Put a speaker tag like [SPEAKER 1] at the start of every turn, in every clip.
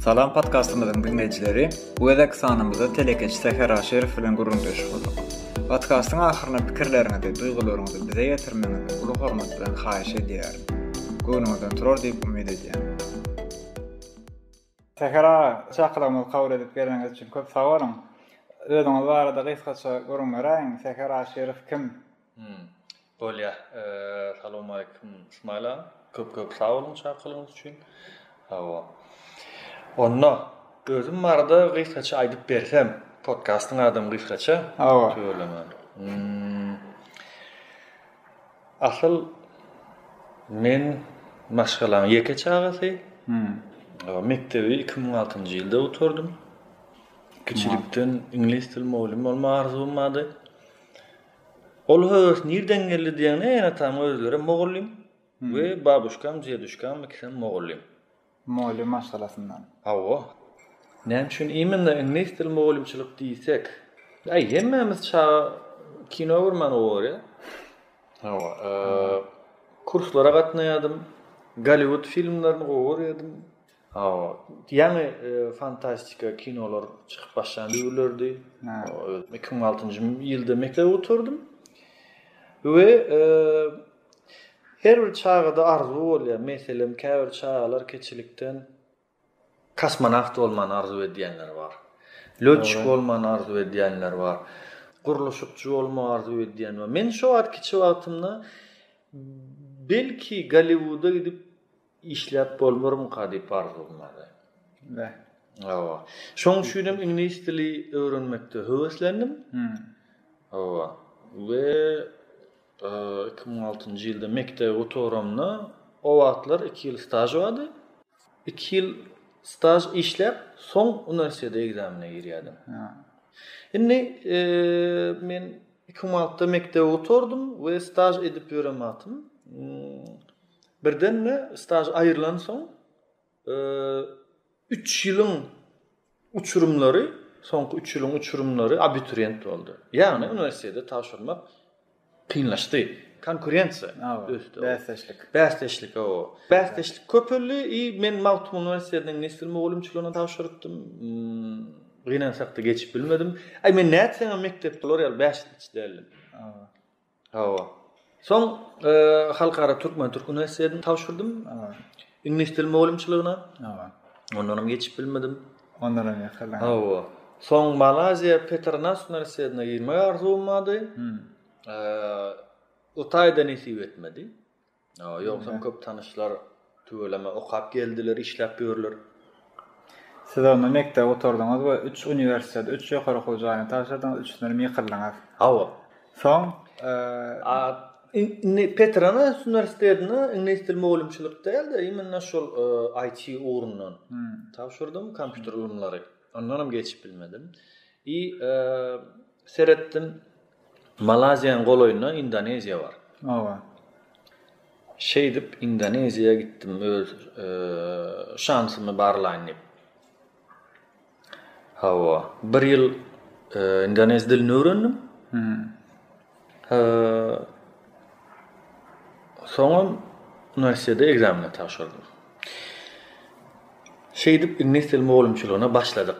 [SPEAKER 1] Salam podkastymyzyň dinleýjileri, bu gezek sanymyzda telekeçi Säher Aşyrow bilen gürrüňdeşik boldyk. Podkastyň ahyryna pikirleriňizi, duýgularyňyzy bize ýetirmegiňizi uly hormat bilen haýyş edýärin. Göwnüňizden turar diýip umyt edýän. Säher aga, çakylygymyzy kabul edip geleniňiz üçin köp sag boluň. Özüňiz barada gysgaça gürrüň beräýiň, Säher Aşyrow kim? Hum.
[SPEAKER 2] Bolýar. Salowmaleýkim, Ysmaýyl aga. Köp-köp sag boluň çakylygyňyz üçin. Hawa. Onda, özüm barada gysgaça aýdyp bersem, podkastyň adamy gysgaça. Hawa. Tüweleme. Hum. Asyl men maşgalaň ýeke çagasy. Mekdebi iki müň altynjy ýylda gutardym. Kiçilikden iňlis dil mugallym bolmak arzuwym bardy. Ol höwes nirden geldi diýeňde, ene-atam özleri mugallym we babuşkam, djeduşkam ikisem mugallym. Mugallym
[SPEAKER 1] maşgalasyndan. Hawa.
[SPEAKER 2] Näme üçin imенно iňlis dili mugallymçylyk diýsek? Aý, hemmämiz çaga kino görmäni gowy görýär. Hawa, kurslara gatnaýardym. Golliwud filmlerini gowy görýärdim. Hawa, ýaňy fantastika kinolar çykyp başlan döwürlerdi. Özüm iki müň altynjy ýylda mekdebe gutardym. We Her bir çagada arzuw bolýar. Meselem, käbir çagalar kiçilikden kosmonawt bolmany arzuw edýänler bar. Lötçik bolmany arzuw edýänler bar. Gurluşykçy bolmagy arzuw edýän bar. Men şo wagt kiçi wagtymda belki Golliwuda gidip Işläp bolmarmyka diýip arzuwlamaly. Beh. Hawa. Şoň üçin hem iňlis dili öwrenmekde höweslendim. Hum. Hawa. We iki müň altynjy ýylda mekdebi gutaramda, o wagtlar iki ýyl staž bardy. Iki ýyl staž işläp, soň uniwersitete ekzamene girýärdim. Ha. Indi men iki müň altynda mekdebi gutardym we staž edip ýören wagtym Birden-de staž aýrylansoň, üç ýylyň uçurymlary, soňky üç ýylyň uçurymlary abituriýent boldy. Ýagny uniwersitete tabşyrmak kynlaşdy. Konkurensiýa ösdi. Bäsdeşlik. Bäsdeşlik, hawa. Bäsdeşlik köpeldi i men Magtymguly uniwersitetiniň nesbil mugallymçylygyna tabşyrypdym. Gynansak-da geçip bilmedim. Aý men nätseňem mekdepde olar ýaly bäşlikçi däldim. Hawa. Soň Halkara türkmen-türk uniwersitetini tabşyrdym. Iňlis dil mugallymçylygyna. Hawa. Ondan hem geçip bilmedim. Ondan hem ýakalanyp. Hawa. Soň Malaýziýa Petronas uniwersitetine girmek arzuwym bardy. Eee, o taýda nesip etmedi. Ýogsam köp tanyşlar tüweleme okap geldiler, işläp ýörler.
[SPEAKER 1] Siz onda mekdep gutardyňyz we üç uniwersitet, üç ýokary okuw jaýyny tabşyrdyňyz, üçüsindenem ýykyldyňyz. Hawa. Soň, indi
[SPEAKER 2] Petronas uniwersitetine iňlis dili mugallymçylyk däl-de, imенно şol IT ugrundan tabşyrdym, kompýuter ylymlary. Ondanam geçip bilmedim. I Seretdim, Malaýziýanyň golaýynda Indoneziýa bar. Oba. Şeýdip, Indoneziýa gitdim öz şansymy barlaýyn diýip. Hawa, bir ýyl indonez dilini öwrendim. Soňam uniwersitete ekzameni tabşyrdym. Şeýdip, iňlis dili mugallymçylygyna başladyk.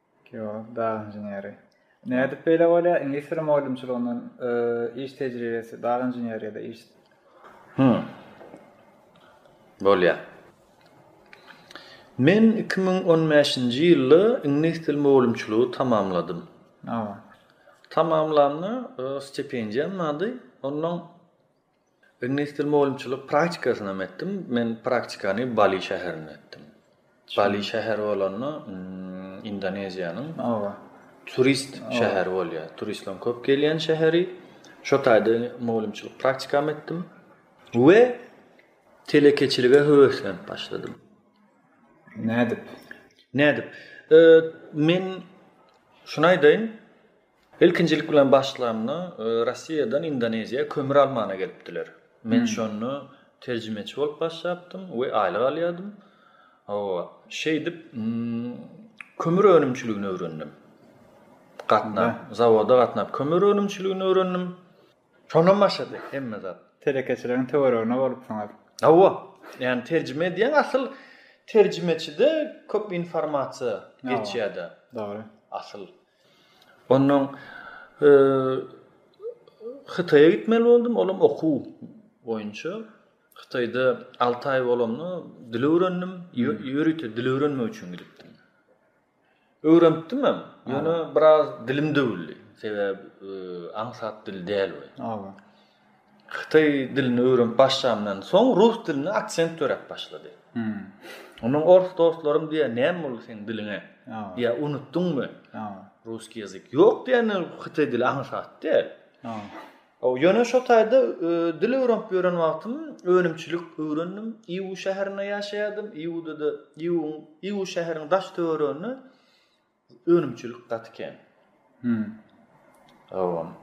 [SPEAKER 2] Geolog,
[SPEAKER 1] dag inženeri. Nädip beýle bolýar? Iňlis dili mugallymçylygyndan iş tejribesi, dag inženeri ýa-da iş. Hü.
[SPEAKER 2] Bolýar. Men iki müň on bäşinji ýylda iňlis dili mugallymçylygy tamamladym. Tamamlanda stipendiýam bardy. Ondan Ognistil mugallymçylyk praktikasynda men etdim. Men praktikany Bali şäherinde etdim. Bali şäheri bolanda, Indoneziýanyň Oba. Turist şäheri bolýar. Turistleriň köp gelýän şäheri. Şo taýda mugallymçylyk praktikamy etdim we telekeçilige höweslenip
[SPEAKER 1] başladym.
[SPEAKER 2] Nädip? Nädip? Men şuny aýdaýyn. Ilkinjilik bilen başlanda Rossiýadan Indoneziýa kömür almana gelipdiler. Men şonda terjimeçi bolup başlapdym we aýlyk alýardym. Hawa, şeýdip kömür önümçiligini öwrendim. Gatnap, zawoda gatnap kömür önümçiligini öwrendim. Şondan başlady hemme zat. Telekeçiligiň töweregine
[SPEAKER 1] bolupsyňyz. Hawa, ýani
[SPEAKER 2] terjime edýäň, asyl terjimeçide köp informasiýa geçýär-de. Dogry.
[SPEAKER 1] Asyl.
[SPEAKER 2] Ondan Hytaýa gitmeli boldum, ol hem okuw boýunça. Hytaýda alty aý bolamda dil öwrendim, ýörite dil öwrenmek üçin gidipdim. Öwrenipdim hem, ýöne biraz dilim döwüldi, sebäbi aňsat dil däl ol. Hytaý dilini öwrenip başlamdan soň rus dilinde aksent döräp başlady. Ondan ors dostlarym diýýär, näme boldy seň diliňe? Diýýär, unutdyňmy? Russkiý ýazyk. Ýok diýende hytaý dili aňsat däl. Ýöne şo taýda dil öwrenip ýören wagtym önümçilik öwrendim. Iwu şäherinde ýaşaýardym. Iwuda-da, Iwu şäheriniň daş-töwereginde Önümçilik gaty kän. Howam.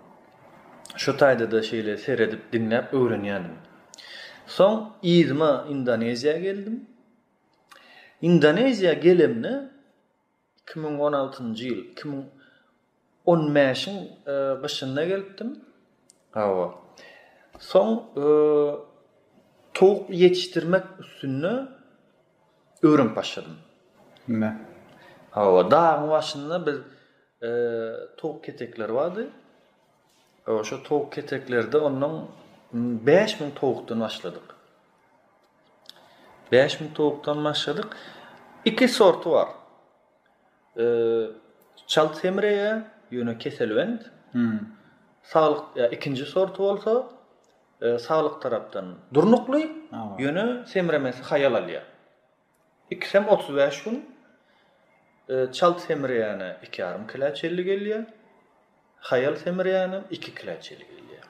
[SPEAKER 2] Şu taýda-da şeýle seredip, diňläp öwrenýändim. Soň yzyma Indoneziýa geldim. Indoneziýa gelemde iki müň on altynjy ýyl, iki müň on bäşiň gyşynda gelipdim. Hawa. Soň towuk ýetişdirmek üstünde Öwrenip başladym. Näme? Hawa, dagyň başynda biz towuk ketekleri bardy. Hawa, şo towuk keteklerde ondan bäş müň towukdan başladyk. Bäş müň towukdan başladyk. Iki sorty bar. Çalt semreýär, ýöne keselbent. Hmm. Saglyk, ikinji sorty bolsa, saglyk tarapdan durnukly, ýöne semremesi haýal alýar. Ikisem otuz bäş gün çalt semreýäne iki ýarym kilä çenli gelýär, haýal semreýänem iki kilä çenli gelýär.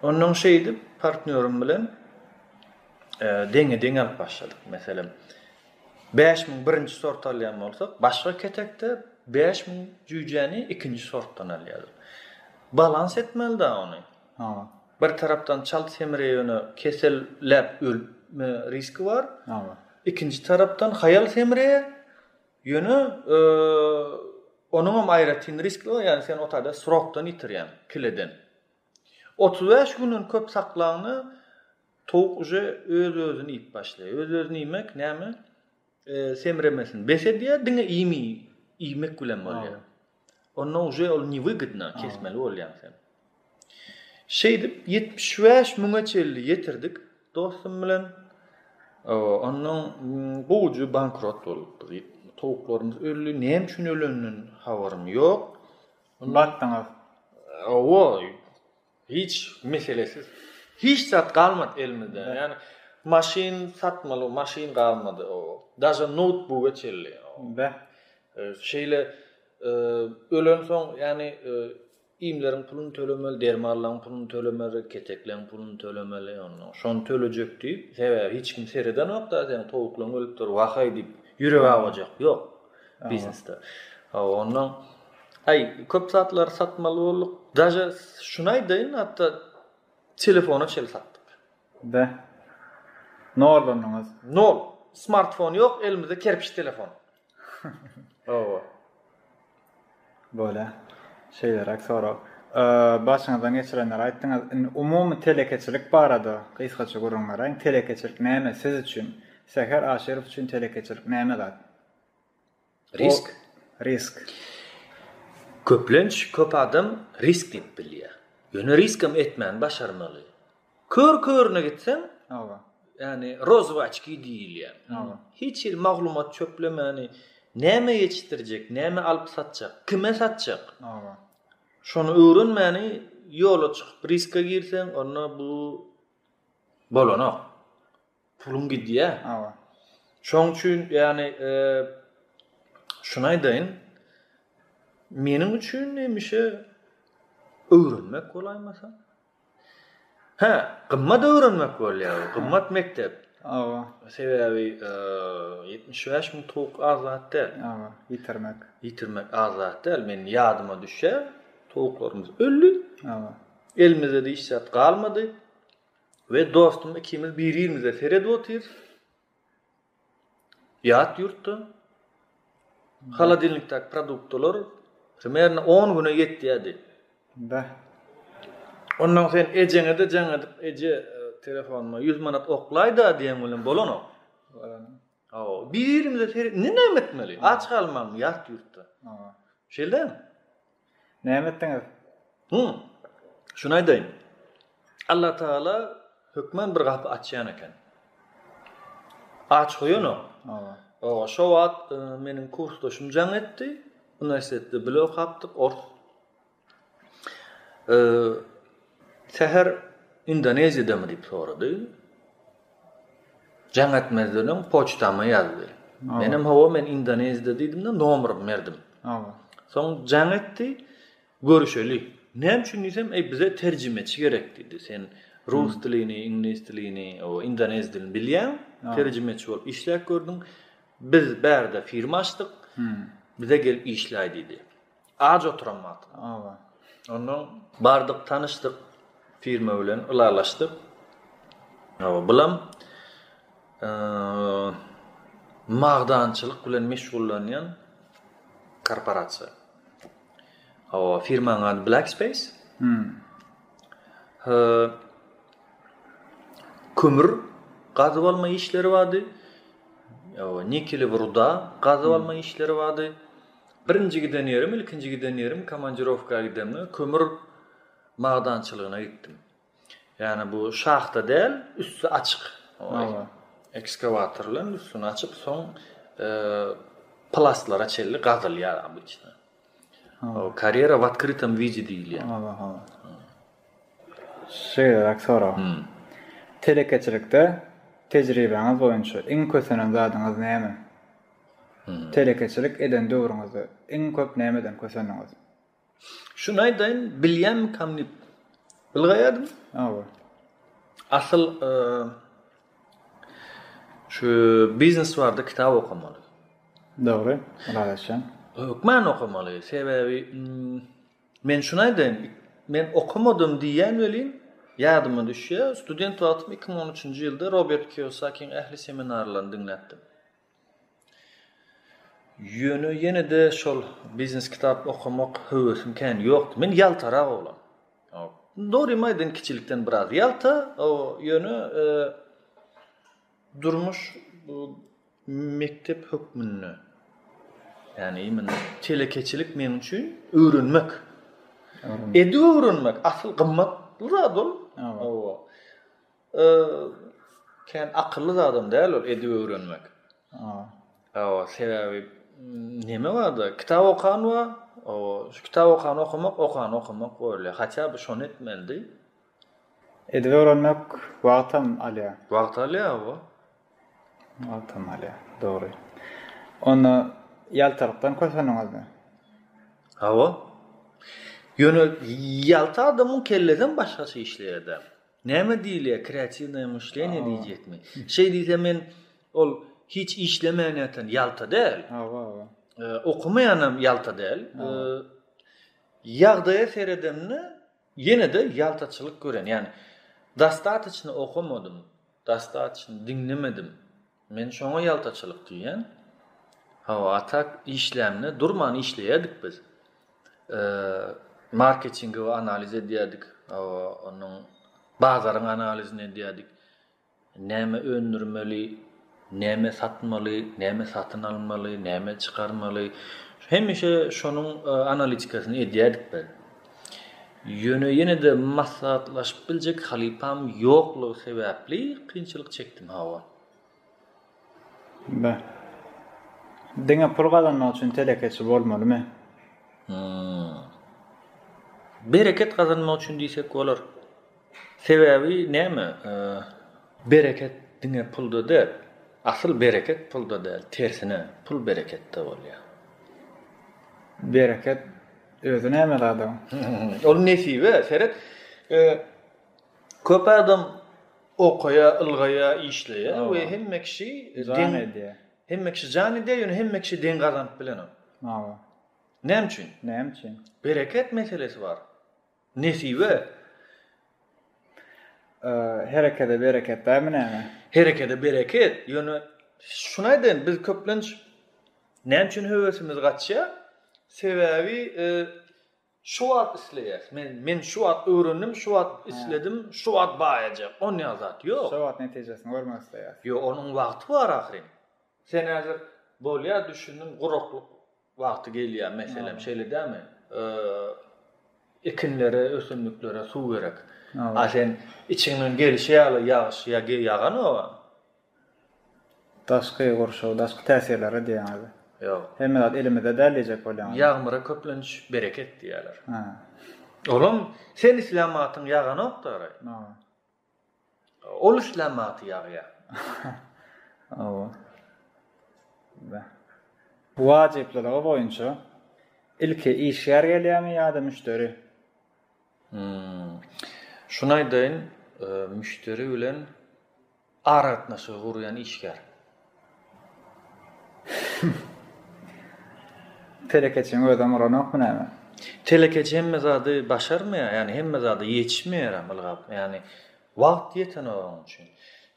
[SPEAKER 2] Onnoň şeýdip, partnýorym bilen deňe-deňe alyp başladyk. Meselem, bäş müň birinji sort alýan bolsak, başga ketekde bäş müň jüýjäni ikinji sortdan alýardyk. Balans etmeli-dä ony. Bir tarapdan çalt semire ýöne kesel läp ölme riski bar. Ikinji tarapdan haýal semire ýöne onuňam aýratyn riski bar ýagny sen otade srokdan ýitirýäň kileden. Otuz bäş günden köp saklaňda towuk uje öz özüni iýip başlaýar. Öz özüni iýmek näme? semremesin bes edýär diňe iýmit iýmek bilen bolýar onda uje ol newygydna kesmeli bolýaň sen şeýdip ýetmiş bäş müňe çenli ýetirdik dostum bilen ondan gowujy bankrot bolupdyk towuklarymyz öldi näme üçin öleninden habarym ýok batdyňyz
[SPEAKER 1] oý
[SPEAKER 2] Hiç meselesiz. Hiç zat galmady elimizde. Yani maşyn satmaly maşyn galmady o. Daja noutbuga çelli. Be. Şeyle e, ölen soň yani e, iýmleriň puluny tölemeli, dermanlaryň puluny tölemeli, ketekleriň puluny tölemeli, ondan şony tölejek diýip, sebäbi hiç kim seredenok da, sen towuklaryň ölüpdir, wahaý diýip, ýürek awajak. Ýok. biznesde. Hawa, ondan aý köp zatlary satmaly bolduk. Daže şuny aýdaýyn, hatda telefona çenli satdyk. Be.
[SPEAKER 1] Nollandyňyz. Nol.
[SPEAKER 2] Smartfon ýok, elimizde kerpiç telefon. Hawa.
[SPEAKER 1] Bolýa. Şeýleräk sorag. Başyňyzdan geçirenleri aýtdyňyz. Indi umumy telekeçilik barada gysgaça gürrüň beräýiň. Telekeçilik näme siz üçin? Säher Aşyrow üçin telekeçilik näme zat? Risk. Risk. Köplenç
[SPEAKER 2] köp adam risk diýip bilýär. Ýöne risk hem etmäni başarmaly. Kör körüne gitseň, Hawa. Ýani rozwaçki diýilýär. Hawa. Hiç hili maglumat çöplemäni, näme ýetişdirjek, näme alyp satjak, kime satjak? Hawa. Şony öwrenmäni ýola çykyp riska girseň, onda bu bolanok. Puluň gidýä. Hawa. Şoň üçin ýagny şuny aýdaýyn. Meniň üçin hemişe öwrenmek bolaýmasa. Hä, gymmat öwrenmek bolýar, gymmat mekdep.
[SPEAKER 1] Hawa. Sebäbi 75
[SPEAKER 2] müň towuk azat däl. Hawa, ýitirmek.
[SPEAKER 1] Ýitirmek
[SPEAKER 2] azat däl. Men ýadyma düşýär, towuklarymyz öldi. Hawa.
[SPEAKER 1] Elimizde diş
[SPEAKER 2] zat galmady. We dostum ikimiz bir-birimize seredip otyrys. Ýat ýurtda holodilnikdäki produktlar primerno 10 güne ýetýärdi. Da. Ondan sen ejeňe-de jaň edip, eje, e, telefonuma 100 manat oklaýda diýen bilen bolanok. Hawa, birimize seret, ne näme etmeli? Aç galmaň ýat ýurtda. Hawa. Şeýlem. Näme
[SPEAKER 1] etdiňiz? Hı.
[SPEAKER 2] Şunu aýdaýyn. Allah Taala hökmen bir gapy açýan eken. Aç goýanok. Hawa. Owa,
[SPEAKER 1] şo wagt
[SPEAKER 2] e, meniň kursdaşym jaň etdi. Uniwersitetde bile okapdyk, ors Säher Indoneziýadamy diýip sorady. Jaň etmezden öň poçtama ýazdy. Menem hawa men Indoneziýada diýdim-de nomerymy berdim. Soň
[SPEAKER 1] jaň
[SPEAKER 2] etdi. Görüşeli. Näme üçin diýsem, eý bize terjimeçi gerek diýdi. Sen rus dilini, iňlis dilini, o indonez dilini bilýäň. Terjimeçi bolup işläp gördüň. Biz bärde firma açdyk. Bize gelip işläý diýdi. Aç oturan wagty. Awa.
[SPEAKER 1] Ondan
[SPEAKER 2] bardyk, tanyşdyk, firma bilen ylalaşdyk. Awa, bulam eee magdançylyk bilen meşgullanýan korporasiýa. Awa, firmanyň ady Black Space. Hmm. Eee kömür gazyp alma işleri bardy. Awa, nikeli ruda gazyp alma işleri bardy. Birinji giden ýerim, ilkinji giden ýerim komandirowka gidemde kömür magdançylygyna gitdim. Ýagny bu şahta däl, üsti açyk. Ekskawator bilen üstüni açyp, soň plastlara çenli gazylýar obýçna. Karýera w otkrytom widi diýilýär.
[SPEAKER 1] Şeýleräk sorag. Telekeçilikde tejribäňiz boýunça iň kösenen zadyňyz näme? Telekeçilik eden döwrüňizde iň köp nämeden kösendiňiz? Şuny
[SPEAKER 2] aýdaýyn, bilýänmikäm diýip ylgaýardym. Hawa. Asyl şu biznes barada kitap okamaly. Dogry,
[SPEAKER 1] ylalaşýan. Hökman
[SPEAKER 2] okamaly. Sebäbi men şuny aýdaýyn, men okamadym diýýän welin, ýadyma düşýär, student wagtym 2013-nji ýylda Robert Kiyosakiň ähli seminarlaryny diňläpdim. Ýöne ýene-de şol biznes kitap okamak höwesim kän ýokdy. Men ýaltarak oglan. Dogrymy aýdaýyn kiçilikden biraz ýalta, ýöne durmuş mekdep hökmünde. Ýani imma telekeçilik meň üçin öwrenmek. Edip öwrenmek asyl gymmatly zat ol. Hawa. Kän akylly zadam däl ol edip öwrenmek. Hawa, sebäbi näme barda? Kitap okan bar. Hawa, şu kitap okan okamak, okan okamak bolýar. Haçan bu şony etmelidi?
[SPEAKER 1] Edip öwrenmek wagtam alýar. Wagt alýar, hawa. Wagtam alýar, dogry. Onda ýaltalykdan köseniňizmi? Hawa.
[SPEAKER 2] Ýöne ýalta adamyň kellesem başgaça işleýär-dä. Näme diýilýär kreatiwnaýe myşleniýe diýjekmi? Şeý diýsem men ol hiç işlemeýän ýatan ýalta däl. Hawa, hawa. Okamaýanam ýalta däl. Ýagdaýa seredemde ýene-de ýaltaçylyk gören. Ýagny dostatoçno okamadym, dostatoçno diňlemedim. Men şoňa ýaltaçylyk diýýän. Hawa, a tak işlämine durman işleýärdik biz. Marketingi we analiz edýärdik. Hawa, onuň bazaryň analizini edýärdik. Näme öndürmeli, näme satmaly, näme satyn almaly, näme çykarmaly. Hemişe şonuň analitikasyny edýärdik biz. Ýöne ýene-de maslahatlaşyp biljek halypam ýoklugy sebäpli kynçylyk çekdim hawa. Be.
[SPEAKER 1] Diňe pul gazanmak üçin telekeçi bolmalymy? Hum.
[SPEAKER 2] Bereket gazanmak üçin diýsek bolar. Sebäbi näme? Bereket diňe pulda däl. Asyl bereket pulda däl, tersine, pul bereketde bolýar. Bereket
[SPEAKER 1] Özi näme zadam? Ol
[SPEAKER 2] nesibe, seret. Köp adam okaýa, ylgaýa, işleýä we hemme kişi deň edýär. Hemme kişi jan edýär, ýöne hemme kişi deň gazanyp bilenok. Hawa. Näme üçin? Näme üçin?
[SPEAKER 1] Bereket meselesi
[SPEAKER 2] bar. Nesibe.
[SPEAKER 1] Herekede bereket dämi näme? Herekede bereket.
[SPEAKER 2] Ýöne şuny aýdaýyn, biz köplenç näme üçin höwesimiz gaçýar? Sebäbi şu wagt isleýäs. Men men şu wagt öwrendim, şu wagt isledim, şu wagt baýajak. Onýa zat ýok. Şu wagt netijesini görmek
[SPEAKER 1] isleýäs. Ýok, onuň wagty
[SPEAKER 2] bar ahyryn. Sen häzir bolýar düşündim, guraklyk Wagty gelýär meselem şeýle dämi? Ekinlere, ösümliklere suw gerek. A sen içiňden gelişi ýaly ýagyş ýa ge ýaganoga. Daşky
[SPEAKER 1] gurşaw, daşky täsirlere diýýäňizmi? Ýok. Hemme zat
[SPEAKER 2] elimizde
[SPEAKER 1] däl diýjek bolýaňyz. Ýagmyra köplenç
[SPEAKER 2] bereket diýýärler. Olam sen islän wagtyň ýaganokdary. Ol işlän wagty ýagýar. Hawa.
[SPEAKER 1] Beh. Wajyplylygy boýunça ilki işgär gelýärmi ýa-da müşderi? Hum.
[SPEAKER 2] Şuny aýdaýyn, müşderi bilen aragatnaşygy gurýan işgär.
[SPEAKER 1] Telekeçiň özem uranokmy näme? Telekeçi hemme
[SPEAKER 2] zady başarmaýar, ýagny hemme zada ýetişmeýärem ylgap, ýagny wagty ýetenok onuň üçin.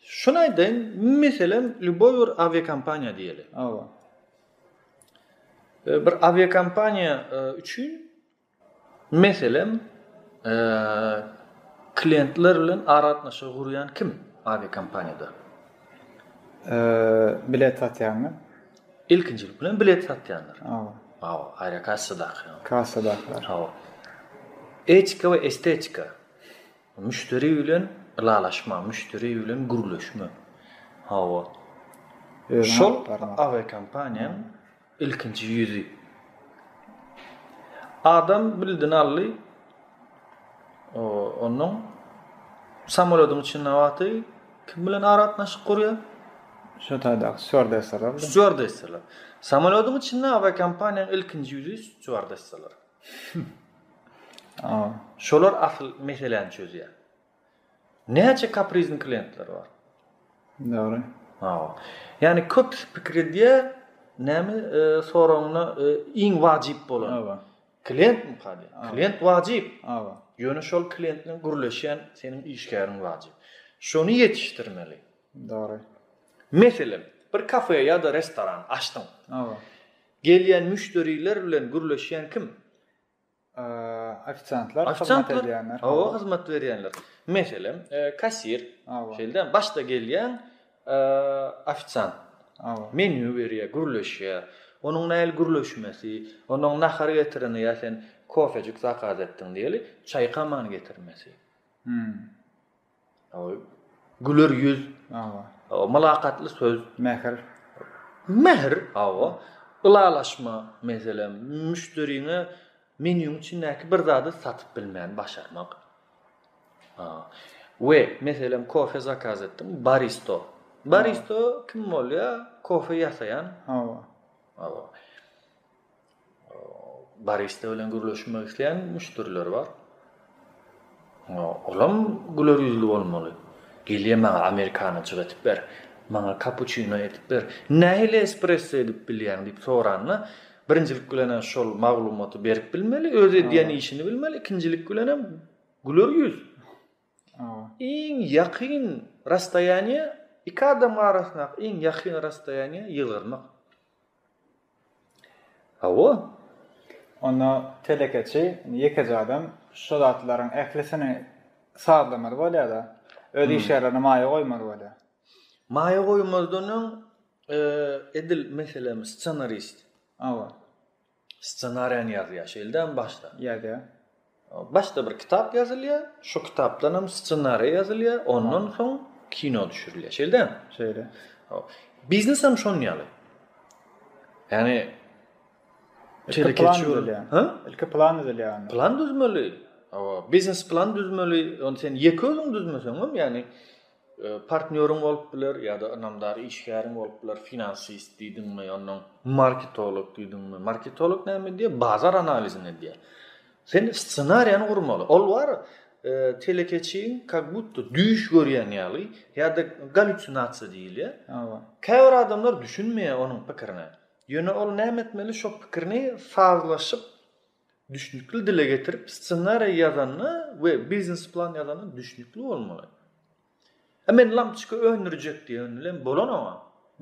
[SPEAKER 2] Şuny aýdaýyn, meselem, lýuboý bir awiakompaniýa diýeli. Hawa. Bir awiakompaniýa üçin Meselem, klientler bilen aragatnaşygy gurýan kim awiakompaniýada?
[SPEAKER 1] Bilet satýanlar. Ilkinjilik
[SPEAKER 2] bilen bilet satýanlar. Hawa. Hawa, aerokassadakylary. Kassadakylary. Hawa. Etika we estetika. Müşderi bilen ylalaşma, müşderi bilen gürleşme. Hawa. Şol awiakompaniýanyň. Ilkinji ýüzi. Adam bildini aldy. O, ondan samolodyň içinde wagty kim bilen aratnaşyk gurýar? Şu
[SPEAKER 1] taýdaky stewardessalar. Stewardessalar.
[SPEAKER 2] Samolodyň içinde awiakompaniýanyň ilkinji ýüzi stewardessalar. Şolar asyl meseläni çözýär. Näçe kaprizn klientler bar. Dogry.
[SPEAKER 1] Hawa.
[SPEAKER 2] Ýani köpüsi pikir edýär, näme soragyňda iň wajyp bolan. Hawa. Klient mi kady? Klient wajyp. Hawa. Ýöne şol klient bilen gürleşýän seniň işgäriň wajyp. Şony ýetişdirmeli. Dogry.
[SPEAKER 1] Meselem,
[SPEAKER 2] bir kafe ýa-da restoran açdyň. Hawa. Gelýän müşderiler bilen gürleşýän kim?
[SPEAKER 1] Ofisiantlar, hyzmat edýänler. Hawa, hyzmat berýänler.
[SPEAKER 2] Meselem, kassir. Hawa. Şeýle, başda gelýän ofisiant. Hawa. Menýu berýär, gürleşýär. Onuň nähili gürleşmesi, onuň nahar getireni ýa sen kofejik zakaz etdiň diýeli, çaýkaman getirmesi. Hmm. Güler ýüz. Hawa. Mylakatly söz. Mähir. Mähir, hawa. Ylalaşma, meselem, müşderine menýuň içindäki bir zady satyp bilmäni başarmak. We, meselem, kofe zakaz etdiň, baristo. Baristo kim bolýar? Kofe ýasaýan. Hawa. Hawa. Barista bilen gürleşmek isleýän müşderiler bar. Olam güler ýüzli bolmaly. Gelýär maňa amerikano çygatyp ber, maňa kapuçino edip ber, nähili espresso edip bilýäň diýip soranda, birinjilik bilen şol maglumaty berip bilmeli, öz edýän işini bilmeli, ikinjilik bilen hem güler ýüz. Iň ýakyn rastoýaniýe, iki adamyň arasyndaky iň ýakyn rastoýaniýe ýylgyrmak. Hawa.
[SPEAKER 1] Onda telekeçi ýekeje adam şu zatlaryň ählisini sazlamaly bolýar-da. Öz iş ýerlerine maýa goýmaly bolýar. Maýa
[SPEAKER 2] goýmazdan öň edil meselem ssenarist. Hawa. Ssenariýany ýazýar, şeýle dälmi başda? Ýazýar. Başda bir kitap ýazylýar, şo kitapdanam ssenariýa ýazylýar, ondan soň kino düşürilýär. Şeýle dälmi? Şeýle.
[SPEAKER 1] Biznes
[SPEAKER 2] hem şon ýaly. Ýani ilki
[SPEAKER 1] plan düzülýär. Ha? Ilki plan düzülýär. Plan düzmeli.
[SPEAKER 2] Awa, biznes plan düzmeli. Ony sen ýeke özüň düzmeseň hem, ýani Partnýoryň bolup biler ýa-da ynamdar işgäriň bolup biler, finansist diýdiňmi, onnoň marketolog diýdiňmi. Marketolog näme edýär? Bazar analizini edýär. Sen ssenariýany gurmaly. Ol bar, telekeçiň kak budda düýş görýän ýaly ýa-da galýusinasiýa diýilýär. Hawa. Käbir
[SPEAKER 1] adamlar
[SPEAKER 2] düşünmeýär onuň pikirine. Ýöne ol näme etmeli? Şo pikirini sazlaşyp, Düşnükli dile getirip ssenariý ýazanda we biznes plan ýazanda düşnükli bolmaly. E men lampoçka öndürjek diýen bilen bolanok-a.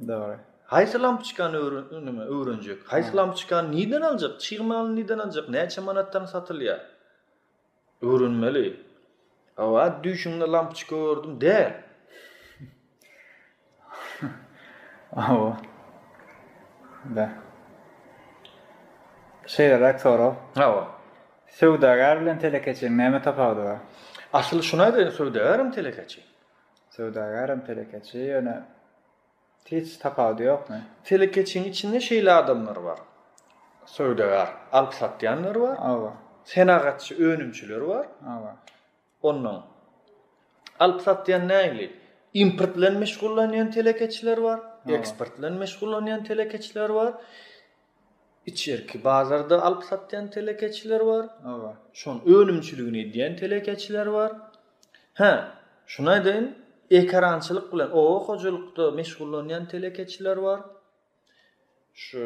[SPEAKER 2] Dogry.
[SPEAKER 1] Haýsy lampoçkany
[SPEAKER 2] öwren, öwrenjek? Haýsy lampoçkany nirden aljak? Çig malyny nirden aljak? Näçe manatdan satylýar? Öwrenmeli. Hawa düýşüňde lampçka gördüm däl.
[SPEAKER 1] Hawa. Da. Şeýleräk sorag. Hawa.
[SPEAKER 2] Söwdagär
[SPEAKER 1] bilen telekeçiň näme tapawudy bar? Asyl şuny aýdaýyn
[SPEAKER 2] söwdagär hem telekeçi. Söwdagär
[SPEAKER 1] hem telekeçi ýöne Hiç tapawudy ýokmy? Telekeçiň içinde
[SPEAKER 2] şeýle adamlar bar. Söwdagär, alyp satýanlar bar. Hawa. Senagatçy, önümçiler bar. Hawa.
[SPEAKER 1] Ondan
[SPEAKER 2] alyp satýan nägili? Import bilen meşgullanýan telekeçiler bar, eksport bilen meşgullanýan telekeçiler bar. Içerki bazarda alyp satýan telekeçiler bar. Şonuň
[SPEAKER 1] önümçiligini
[SPEAKER 2] edýän telekeçiler bar. Hä, şuny aýdaýyn, ekerançylyk bilen oba hojalykda meşgullanýan telekeçiler bar. Şu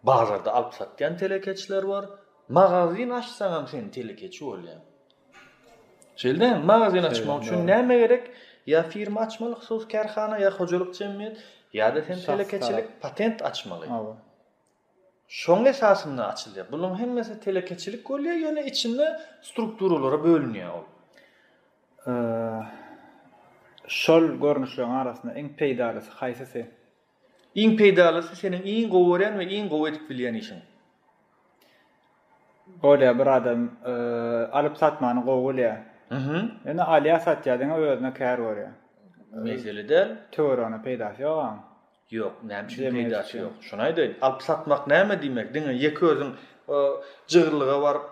[SPEAKER 2] bazarda alyp satýan telekeçiler bar. Magazyn açsaňam sen telekeçi bolýaň. Şeýldämi? Magazyn açmak üçin näme gerek? Ýa firma açmaly, hususy kärhana ýa hojalyk jemgyýet, ýa-da sen telekeçilik patent açmaly. Hawa. Şoň esasynda açylýar. Buluň hemmesi telekeçilik bolýar, ýöne içinde strukturalara bölünýär ol.
[SPEAKER 1] Şol görnüşleriň arasynda iň peýdalysy haýsysy? Iň
[SPEAKER 2] peýdalysy seniň iň gowy görýän we iň gowy edip bilýän işiň.
[SPEAKER 1] Bolýar bir adam alyp satmany gowy bilýär. Ýöne alýar satýar diňe özüne kär görýär. Mesele däl.
[SPEAKER 2] Töwere ony
[SPEAKER 1] peýdasy ýok aň. Ýok, näme
[SPEAKER 2] üçin peýdasy ýok. Şony aýdaýyn. Alyp satmak näme diýmek? Diňe ýeke özüň jygyrlyga baryp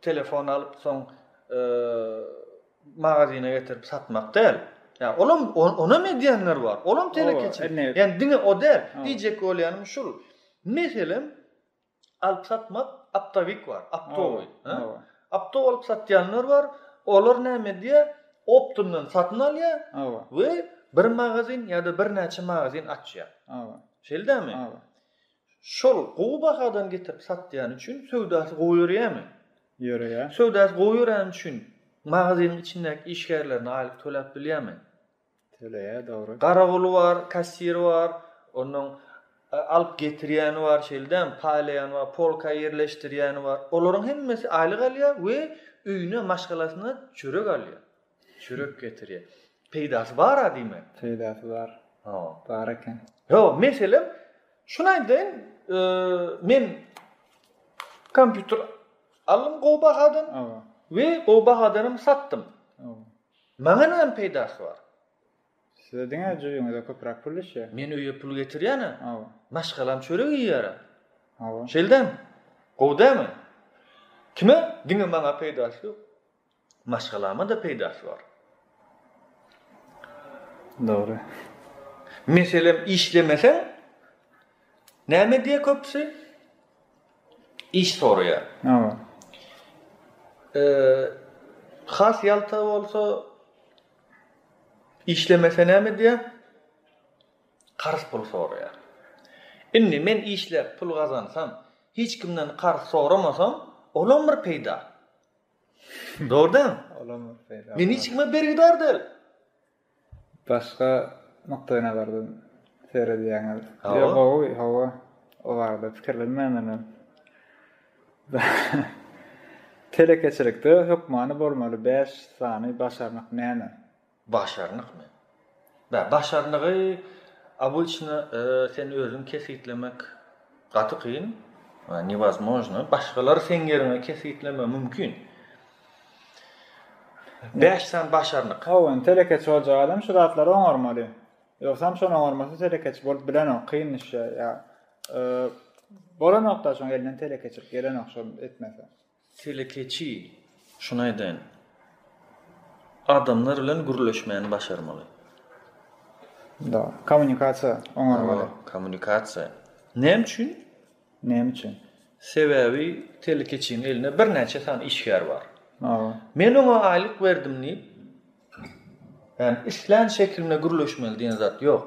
[SPEAKER 2] telefon alyp soň magazyna getirip satmak däl. Ýa olam onam edýänler bar. Olam telekeçi. Ýani diňe o däl. Diýjek bolýanym şul. Meselem alyp satmak aptawik bar, aptowy. Aptow alyp satýanlar bar. Olar näme edýär? Optundan satyn alýar we bir magazin ýa-da birnäçe magazin açýar. Şeýldämi? Şol gowy bahadan getirip satýany üçin söwdasy gowy ýöreýärmi? Ýöreýär.
[SPEAKER 1] Söwdasy gowy ýöreni
[SPEAKER 2] üçin magazynyň içindäki işgärlerine aýlyk töläp bilýärmi? Töleýär,
[SPEAKER 1] dogry. Garagoly bar,
[SPEAKER 2] kassiri bar, onnoň alyp getirýäni bar, şeýle däl, paýlaýany bar, polka ýerleşdirýäni bar. Olaryň hemmesi aýlyk alýar we öýüne, maşgalasyna çörek alýar. Çörek getirýär. Peýdasy bar-a diýmek. Peýdasy bar.
[SPEAKER 1] Ha. Bar eken. Ýo, meselem,
[SPEAKER 2] şuny aýdaýyn, men kompýuter aldym gowy bahadan we gowy bahadan hem satdym. Maňa näme peýdasy bar? Size
[SPEAKER 1] diňe jübüňize köpräk pul düşýär. Men öýe pul getirýän-ä.
[SPEAKER 2] Hawa. Maşgalam çörek iýýär. Hawa. Şeldem. Gowy dämi? Kime? Diňe maňa peýdasy ýok. Maşgalama-da peýdasy bar.
[SPEAKER 1] Dogry.
[SPEAKER 2] Meselem, işlemeseň, näme diýýär köpüsi? Iş soraýar. Hawa. Eee, has ýalta bolsa, işlemese näme diýýär? Karz pul soraýar. Indi men işläp pul gazansam, hiç kimden karz soramasam, olam bir peýda. Dogry däl.
[SPEAKER 1] Men hiç kime bergidar
[SPEAKER 2] däl.
[SPEAKER 1] Başga nukdaýna bardan seredýäňiz. Ýa gowy, hawa. O barada pikirlenmänden. Telekeçilikde hökmany bolmaly bäş sany başarnyk näme? Başarnykmy?
[SPEAKER 2] Bä, başarnygy obyçna sen özüň kesgitlemek gaty kyn, newozmojno, başgalar seň ýeriňe kesgitlemegi mümkin. Bäş sany başarnyk. Hawa, indi telekeçi boljak
[SPEAKER 1] adam şu zatlary oňarmaly. Ýogsam şony oňarmasa telekeçi bolup bilenok, kyn iş ýa-da bolanok-da şoň elinden telekeçilik gelenok şony etmese. Telekeçi,
[SPEAKER 2] Şuny aýdaýyn. Adamlar bilen gürleşmäni başarmaly.
[SPEAKER 1] Da, kommunikasiýa
[SPEAKER 2] oňarmaly. Hawa,
[SPEAKER 1] kommunikasiýa.
[SPEAKER 2] Näme üçin? Näme üçin? Sebäbi telekeçiniň elinde birnäçe sany işgär bar. Hawa. Men oňa
[SPEAKER 1] aýlyk
[SPEAKER 2] berdim diýip, ýagny islän şekilinde gürleşmeli diýen zat ýok.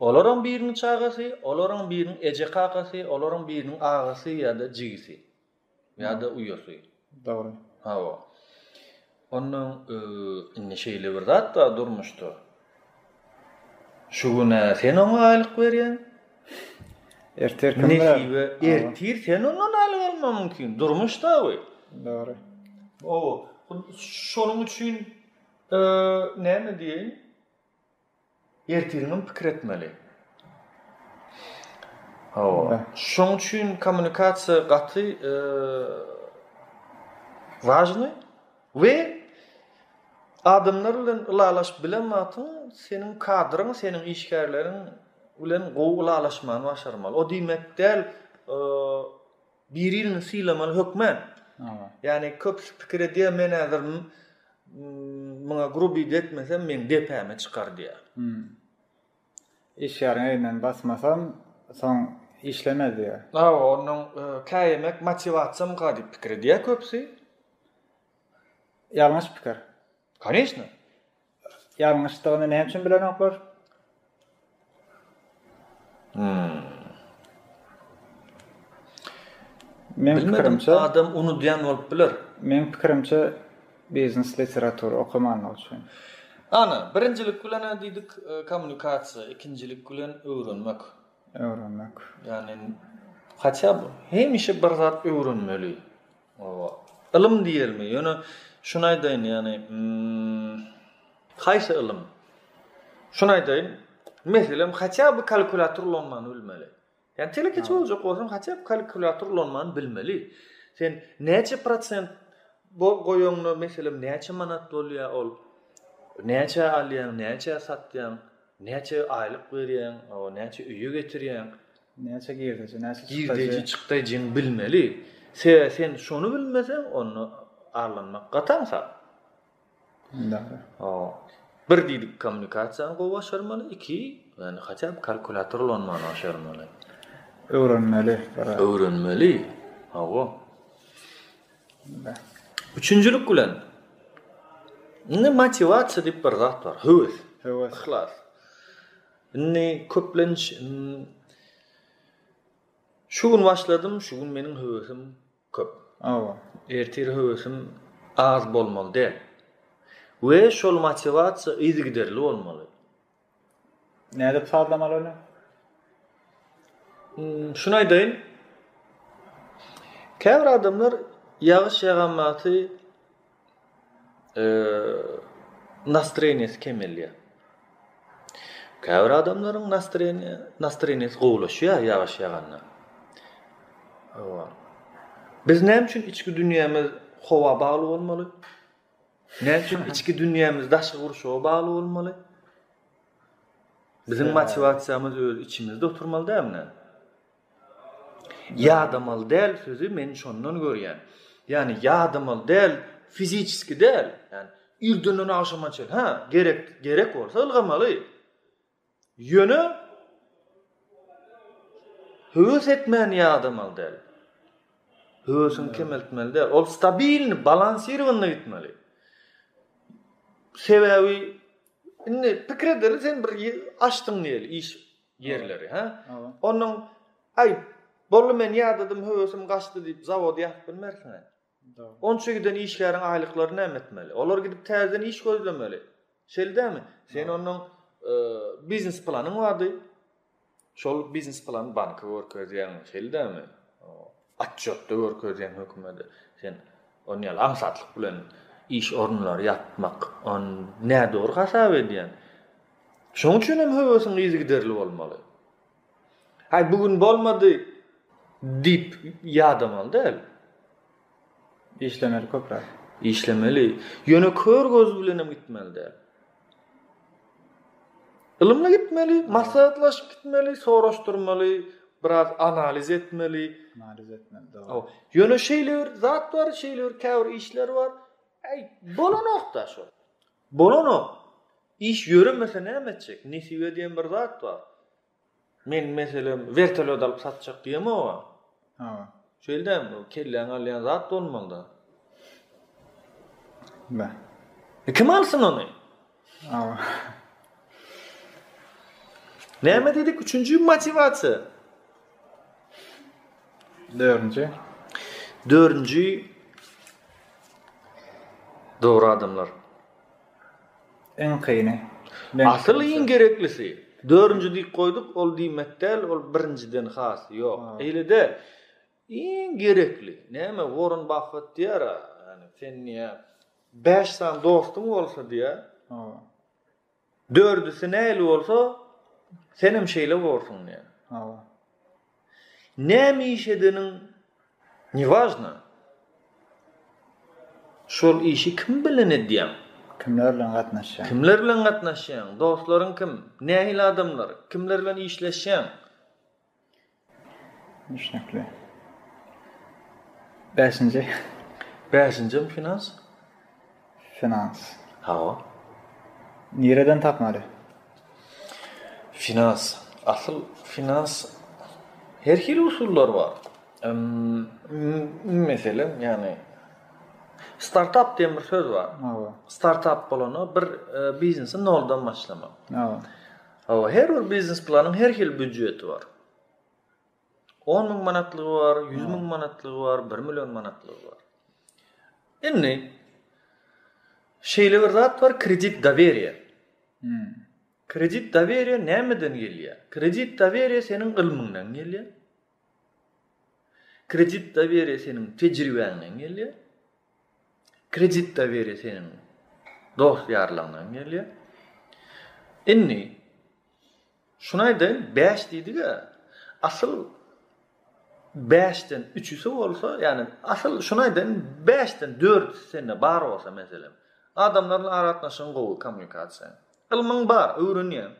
[SPEAKER 2] Olaryň biriniň çagasy, olaryň biriniň eje-kakasy, olaryň biriniň agasy ýa-da jigisi. Ýa-da uýasy. Dogry.
[SPEAKER 1] Hawa.
[SPEAKER 2] Ondan indi şeýle bir zat bar durmuşda. Şu güne sen oňa aýlyk berýäň.
[SPEAKER 1] Ertir kim berýär? Ertir sen
[SPEAKER 2] ondan aýlyk almagyň mümkin. Durmuşda bu. Dogry.
[SPEAKER 1] Ow,
[SPEAKER 2] şonuň üçin näme diýeýin? Ertiriňem pikir etmeli. Hawa. Şoň üçin kommunikasiýa gaty wajny we adamlar bilen ylalaşyp bilen wagtyň seniň kadryň, seniň işgärleriň bilen gowy ylalaşmagyny başarmaly. O diýmek däl, Biririni sylamaly hökmä. Ýani köpüsi pikir edýär men häzir muňa grubiydi etmesem meň depäme çykar diýär.
[SPEAKER 1] Işgäriň elinden basmasam soň işlemez diýär. Hawa ondan
[SPEAKER 2] käýemek motiwasiýamka diýip pikir edýär köpüsi.
[SPEAKER 1] Ýalňyş pikir. Koneçna. Ýalňyşdygyny näme üçin bilenoklar? Hmm. Men pikirimçe adam unudýan bolup
[SPEAKER 2] biler. Men pikirimçe
[SPEAKER 1] biznes literatury okamandygy üçin. Ana,
[SPEAKER 2] birinjilik bilen näme diýdik? E, kommunikasiýa, ikinjilik bilen öwrenmek. Öwrenmek.
[SPEAKER 1] Ýani
[SPEAKER 2] haçan hemişe bir zat öwrenmeli. Oba. Ylym diýelmi? Ýöne şuny aýdaýyn, ýagny, hm. Haýsy ylym? Şuny aýdaýyn, meselem, haçan bir kalkulator ulanmany bilmeli. Ýa telekeçi boljak bolsaň, haçan kalkulator ulanmany bilmeli. Sen näçe prosent bu goýanyňda meselem näçe manat bolýar ol? Näçe alýaň, näçe satýaň? Näçe aýlyk berýäň? Oba, näçe öýe getirýäň? Näçe girdeji,
[SPEAKER 1] näçe çykdajy? Girdeji, çykdajyňy
[SPEAKER 2] bilmeli. Sebäbi sen şony bilmeseň, onda arlanmak gatan hasap. Dogry.
[SPEAKER 1] Bir diýdik
[SPEAKER 2] kommunikasiýany gowy başarmaly, iki, ýagny hatda bir kalkulýator ulanmany başarmaly. Öwrenmeli. Öwrenmeli. Hawa. Üçünjilik bilen indi motiwasiýa diýip bir zat bar, höwes, höwes, yhlas. Indi köplenç Şu gün başladym, şu gün meniň höwesim köp. Hawa. Ertir höwesim az bolmaly däl. We şol motiwasiýa yzygiderli bolmaly.
[SPEAKER 1] Nädip sazlamaly ony?
[SPEAKER 2] Şuny aýdaýyn. Käbir adamlar ýagyş ýaganbaty nastreniýasy kemelýär. Käbir adamlaryň nastreniýasy gowulaşýar ýagyş ýaganda. Biz näme üçin içki dünýämiz howa bagly bolmaly? Näme üçin içki dünýämiz daşky gurşawa bagly bolmaly? Biziň motiwasiýamyz öz içimizde oturmaly dälmi? Ýadamaly däl sözi men şondan görýän. Ýagny ýadamaly däl fiziçeski däl. Ýagny irdenden agşama çenli. Hä, gerek, gerek bolsa ylgamaly. Ýöne höwes etmäni ýadamaly däl. Höwesiňi kemeltmeli däl. Ol stabilni, balansirowany gitmeli. Sebäbi indi pikir edeli sen bir açdyň diýeli, iş ýerleri ha onuň aý boldy men ýadadym höwesim gaçdy diýip zawod ýapyp bilmersiň aý onça giden işgäriň aýlyklary näme etmeli olar gidip täzeden iş gözlemeli şeýle dämi sen onuň e, biznes planyň bardy şol biznes plany banka görkezýäň şeýle dämi Otçotda görkezýän hökümede sen ony ýaly aňsatlyk bilen iş orunlary ýapmak on nädogry hasap edýän. Şoň üçin hem höwesiň yzygiderli bolmaly. Aý bu gün bolmady diýip ýadamaly däl. Işlemeli
[SPEAKER 1] köpräk. Işlemeli.
[SPEAKER 2] Ýöne kör göz bilen hem gitmeli däl. Ylymly gitmeli, maslahatlaşyp gitmeli, soraşdyrmaly, biraz analiz etmeli. Analiz etmeli, dogry.
[SPEAKER 1] Ýöne şeýle
[SPEAKER 2] bir zat bar, şeýle bir käbir işler bar. Äý, bolanok-da şo. Bolanok. Iş ýöremese näme etjek? Nesibe diýen bir zat bar. Men meselem wertolýot alyp satjak diýemok oňa. Hawa.
[SPEAKER 1] Şeýle däl, bu
[SPEAKER 2] kelläňi alýan zat bolmalyda.
[SPEAKER 1] Bä. E kim
[SPEAKER 2] alsyn ony? Hawa. Näme diýdik? Üçünji motiwasiýa. Dördünji. Dördünji dogry adamlar.
[SPEAKER 1] Iň kyny. Asyl iň
[SPEAKER 2] gereklisi. Dördünji diýip goýduk, ol diýmek däl, ol birinjiden has ýok. Eýle-de, iň gerekli. Näme, Worren Baffett diýer-ä, ýagny sen diýýär, bäş sany dostuň bolsa diýýär, dördüsi nähili bolsa, senem şeýle borsuň diýýär. Näme iş edeniň newažna. Şol işi kim bilen edýäň? Kimler bilen
[SPEAKER 1] gatnaşýaň? Kimler bilen gatnaşýaň?
[SPEAKER 2] Dostlaryň kim? Nähili adamlar? Kimler bilen işleşýäň?
[SPEAKER 1] Düşnükli. Bäşinji. Bäşinjim
[SPEAKER 2] finans.
[SPEAKER 1] Finans. Hawa. Nireden tapmaly?
[SPEAKER 2] Finans. Asyl finans her hili usullar bar. Meselem, ýagny startap diýen bir söz bar. Hawa. Startap
[SPEAKER 1] bolanda
[SPEAKER 2] bir e, biznesi noldan başlamak. Hawa.
[SPEAKER 1] Hawa, her
[SPEAKER 2] bir biznes planyň her hili büdjeti bar. On müň manatlygy bar, ýüz müň manatlygy bar, bir million manatlygy bar. Indi şeýle bir zat bar, kredit doweriýa. Hmm. Kredit doweriýa nämeden gelýär? Kredit doweriýa seniň ylmyňdan gelýär. Kredit doweriýa seniň tejribäňden gelýär. Kredit doweriýa seniň dost-ýarlaňdan gelýär. Indi şuny aýdaýyn, bäş diýdik-ä, asyl bäşden üçüsi bolsa, ýagny asyl şuny aýdaýyn, bäşden dördüsi sende bar bolsa, meselem, adamlar bilen aragatnaşygyň gowy, kommunikasiýaň, ylmyň bar, öwrenýäň,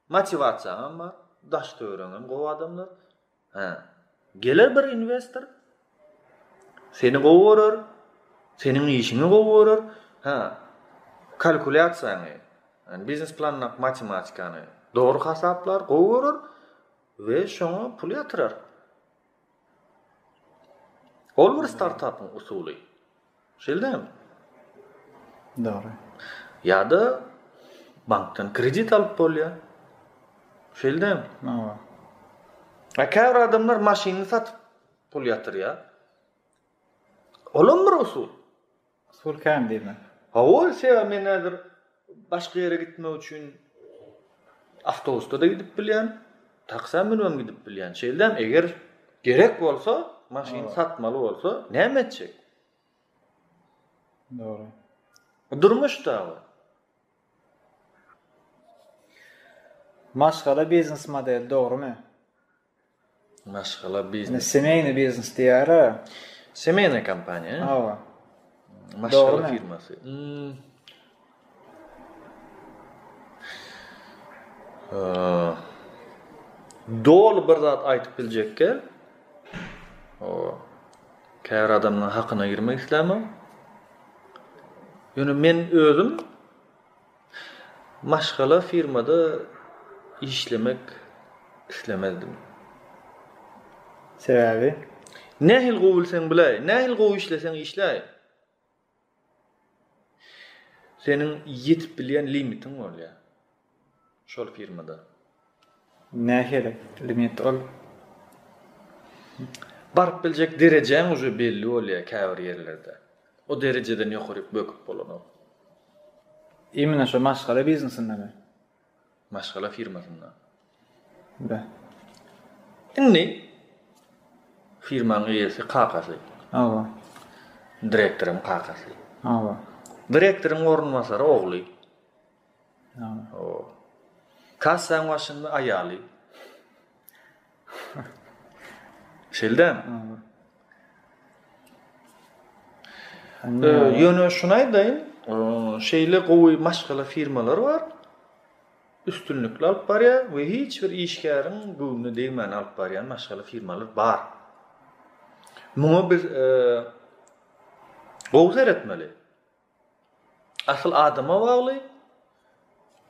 [SPEAKER 2] Motiwasiýaňam bar, daş-töwereňem gowy adamlar. Hä. Geler bir inwestor. Seni gowy görer. Seniň işiňi gowy görer. Hä. Kalkulýasiýaňy, ýani biznes planyňdaky matematikany dogry hasaplar, gowy görer we şoňa pul ýatyrar. Ol bir startapyň usuly. Şeýdämi?
[SPEAKER 1] Dogry.
[SPEAKER 2] Ýa-da bankdan kredit alyp bolýar. Şeýdämi? Hawa.
[SPEAKER 1] A
[SPEAKER 2] käbir adamlar maşynyny satyp pul ýatyrýar. Olam bir usul. Pul kän
[SPEAKER 1] diýme. Hawa, sebäbi
[SPEAKER 2] men häzir başga ýere gitmek üçin awtobusda-da gidip bilýän, taksä münübem gidip bilýän. Şeýldäm, eger gerek bolsa, maşyn satmaly bolsa, näme etjek?
[SPEAKER 1] Dogry. Durmuş-da
[SPEAKER 2] bu.
[SPEAKER 1] Maşgala biznes modeli dogrumy?
[SPEAKER 2] Maşgala biznes. Semeýny biznes
[SPEAKER 1] diýýär-ä. Semeýnaya
[SPEAKER 2] kompaniýa. Hawa.
[SPEAKER 1] Maşgala
[SPEAKER 2] firmasy. Doly bir zat aýdyp biljekge. O käbir adamlaryň hakyna girmek islämok. Ýöne men özüm Maşgala firmada işlemek islemezdim.
[SPEAKER 1] Sebäbi? Nähili gowy
[SPEAKER 2] bilseň biläý, nähili gowy işleseň işläý, seniň ýetip bilýän limitiň bolýar şol firmada.
[SPEAKER 1] Nähili limit ol?
[SPEAKER 2] Baryp biljek derejäň uje belli bolýar käbir ýerlerde. O derejeden ýokaryk böküp bolanok.
[SPEAKER 1] Imine şo maşgala biznesindemi? Maşgala
[SPEAKER 2] firmasynda.
[SPEAKER 1] Be.
[SPEAKER 2] Indi firmaň eýesi kakasy. Hawa. Direktoryň kakasy. Hawa.
[SPEAKER 1] Direktoryň
[SPEAKER 2] orunbasary ogly.
[SPEAKER 1] Oho.
[SPEAKER 2] Kassaň başynda aýaly. Şeýle. Ýöne şuny aýdaýyn, şeýle gowy maşgala firmalary bar. Üstünlikli alyp barýar we hiç bir işgäriň göwnüne degmän alyp barýan maşgala firmalary bar. Muňa biz gowy seretmeli. Asyl adama bagly,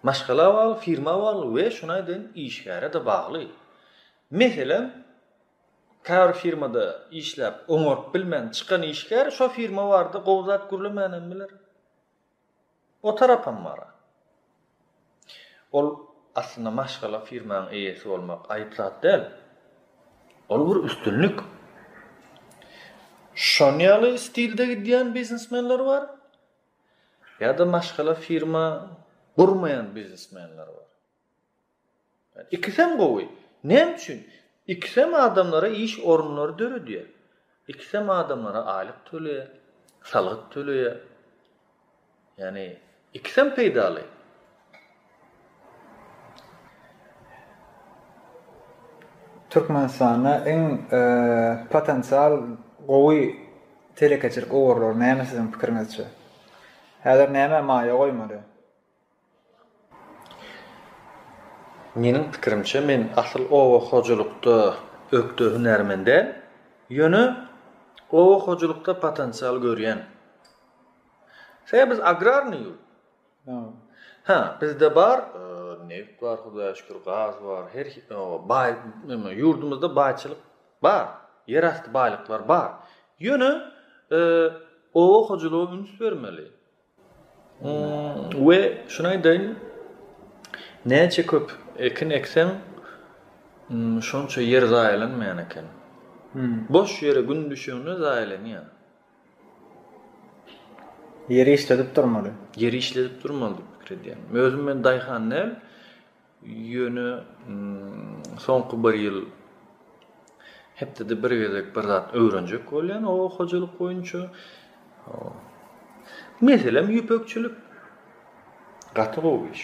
[SPEAKER 2] maşgala bagly, firma bagly we şunaý deýin işgäre-de bagly. Meselem, käbir firmada işläp oňaryp bilmän çykan işgär şo firma barada gowy zat gürlemänem biler. O tarapam bar-a. Ol aslynda maşgala firmaň eýesi bolmak aýyp zat däl. Ol bir üstünlik. Şon ýaly stilde gidýän biznesmenler bar. Ýa-da maşgala firma gurmaýan biznesmenler bar. Ikisem gowy. Näme üçin? Ikisem adamlara iş orunlary döredýär. Ikisem adamlara aýlyk töleýär, salgyt töleýär. Ýagny ikisem peýdaly.
[SPEAKER 1] Türkmenistanda iň potensial gowy telekeçilik ugurlary näme siziň pikiriňizçe? Häzir nämä maýa goýmaly?
[SPEAKER 2] Meniň pikirimçe, men asyl oba hojalykda ökde hünärmen däl. Ýöne oba hojalykda potensial görýän. Sebäbi biz agrarnyý ýurt. Hä, bizde bar, neft bar, Hudaýa şükür, gaz bar, her baý, neme, ýurdumyzda baýçylyk bar, ýerasty baýlyklar bar. Ýöne oba hojalyga üns bermeli. We şuny aýdaýyn, näçe köp ekin ekseň, şonça ýer zaýalanmaýan eken. Boş ýere gün düşende zaýalanýar.
[SPEAKER 1] Ýeri işledip durmaly. Ýeri işledip
[SPEAKER 2] durmaly diýip pikir edýän. Özüm men daýhan däl. Ýöne soňky bir ýyl hepdede bir gezek bir zat öwrenjek bolýan oba hojalyk boýunça. Meselem ýüpekçilik. Gaty gowy iş.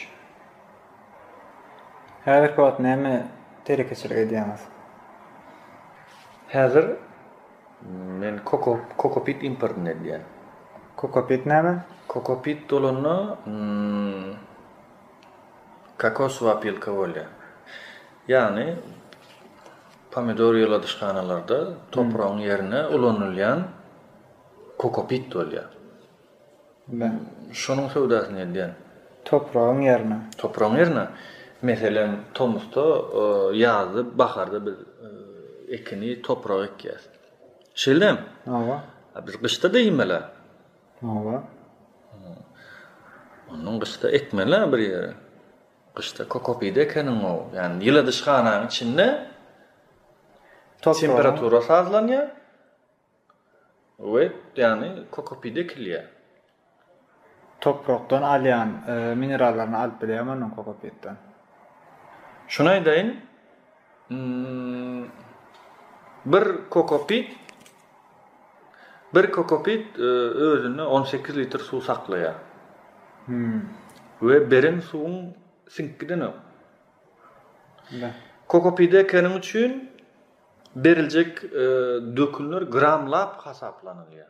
[SPEAKER 1] Häzirki wagt näme telekeçilik edýäňiz?
[SPEAKER 2] Häzir men koko kokopit importyny edýän. Kokopit
[SPEAKER 1] näme? Kokopit dolanda
[SPEAKER 2] Kokosow opilka bolýar. Ýagny pomidor ýyladyşhanalarda topragyň ýerine ulanylýan kokopit bolýar.
[SPEAKER 1] Şonuň
[SPEAKER 2] söwdasyny edýän. Topragyň
[SPEAKER 1] ýerine. Topragyň ýerine.
[SPEAKER 2] Meselem, tomusda, ýazda, baharda biz ekini topraga ekýäs. Şeýle. Hawa.
[SPEAKER 1] Biz gyşda-da
[SPEAKER 2] iýmeli. Hawa. Ondan gyşda ekmeli-ä bir ýere. Gyşda kokopide ekeniň-ow. Ýani ýyladyşhananyň içinde temperatura sazlanýar we ýani kokopide ekilýär. Toprakdan
[SPEAKER 1] alýan minerallaryny alyp bilýärmi onuň kokopitden?
[SPEAKER 2] Şuny aýdaýyn, bir kokopit Bir kokopit özünde on sekiz litr suw saklaýar we beren suwuň siňkgidenok. Kokopide keniň üçin beriljek dökünler gramlap hasaplanylýar.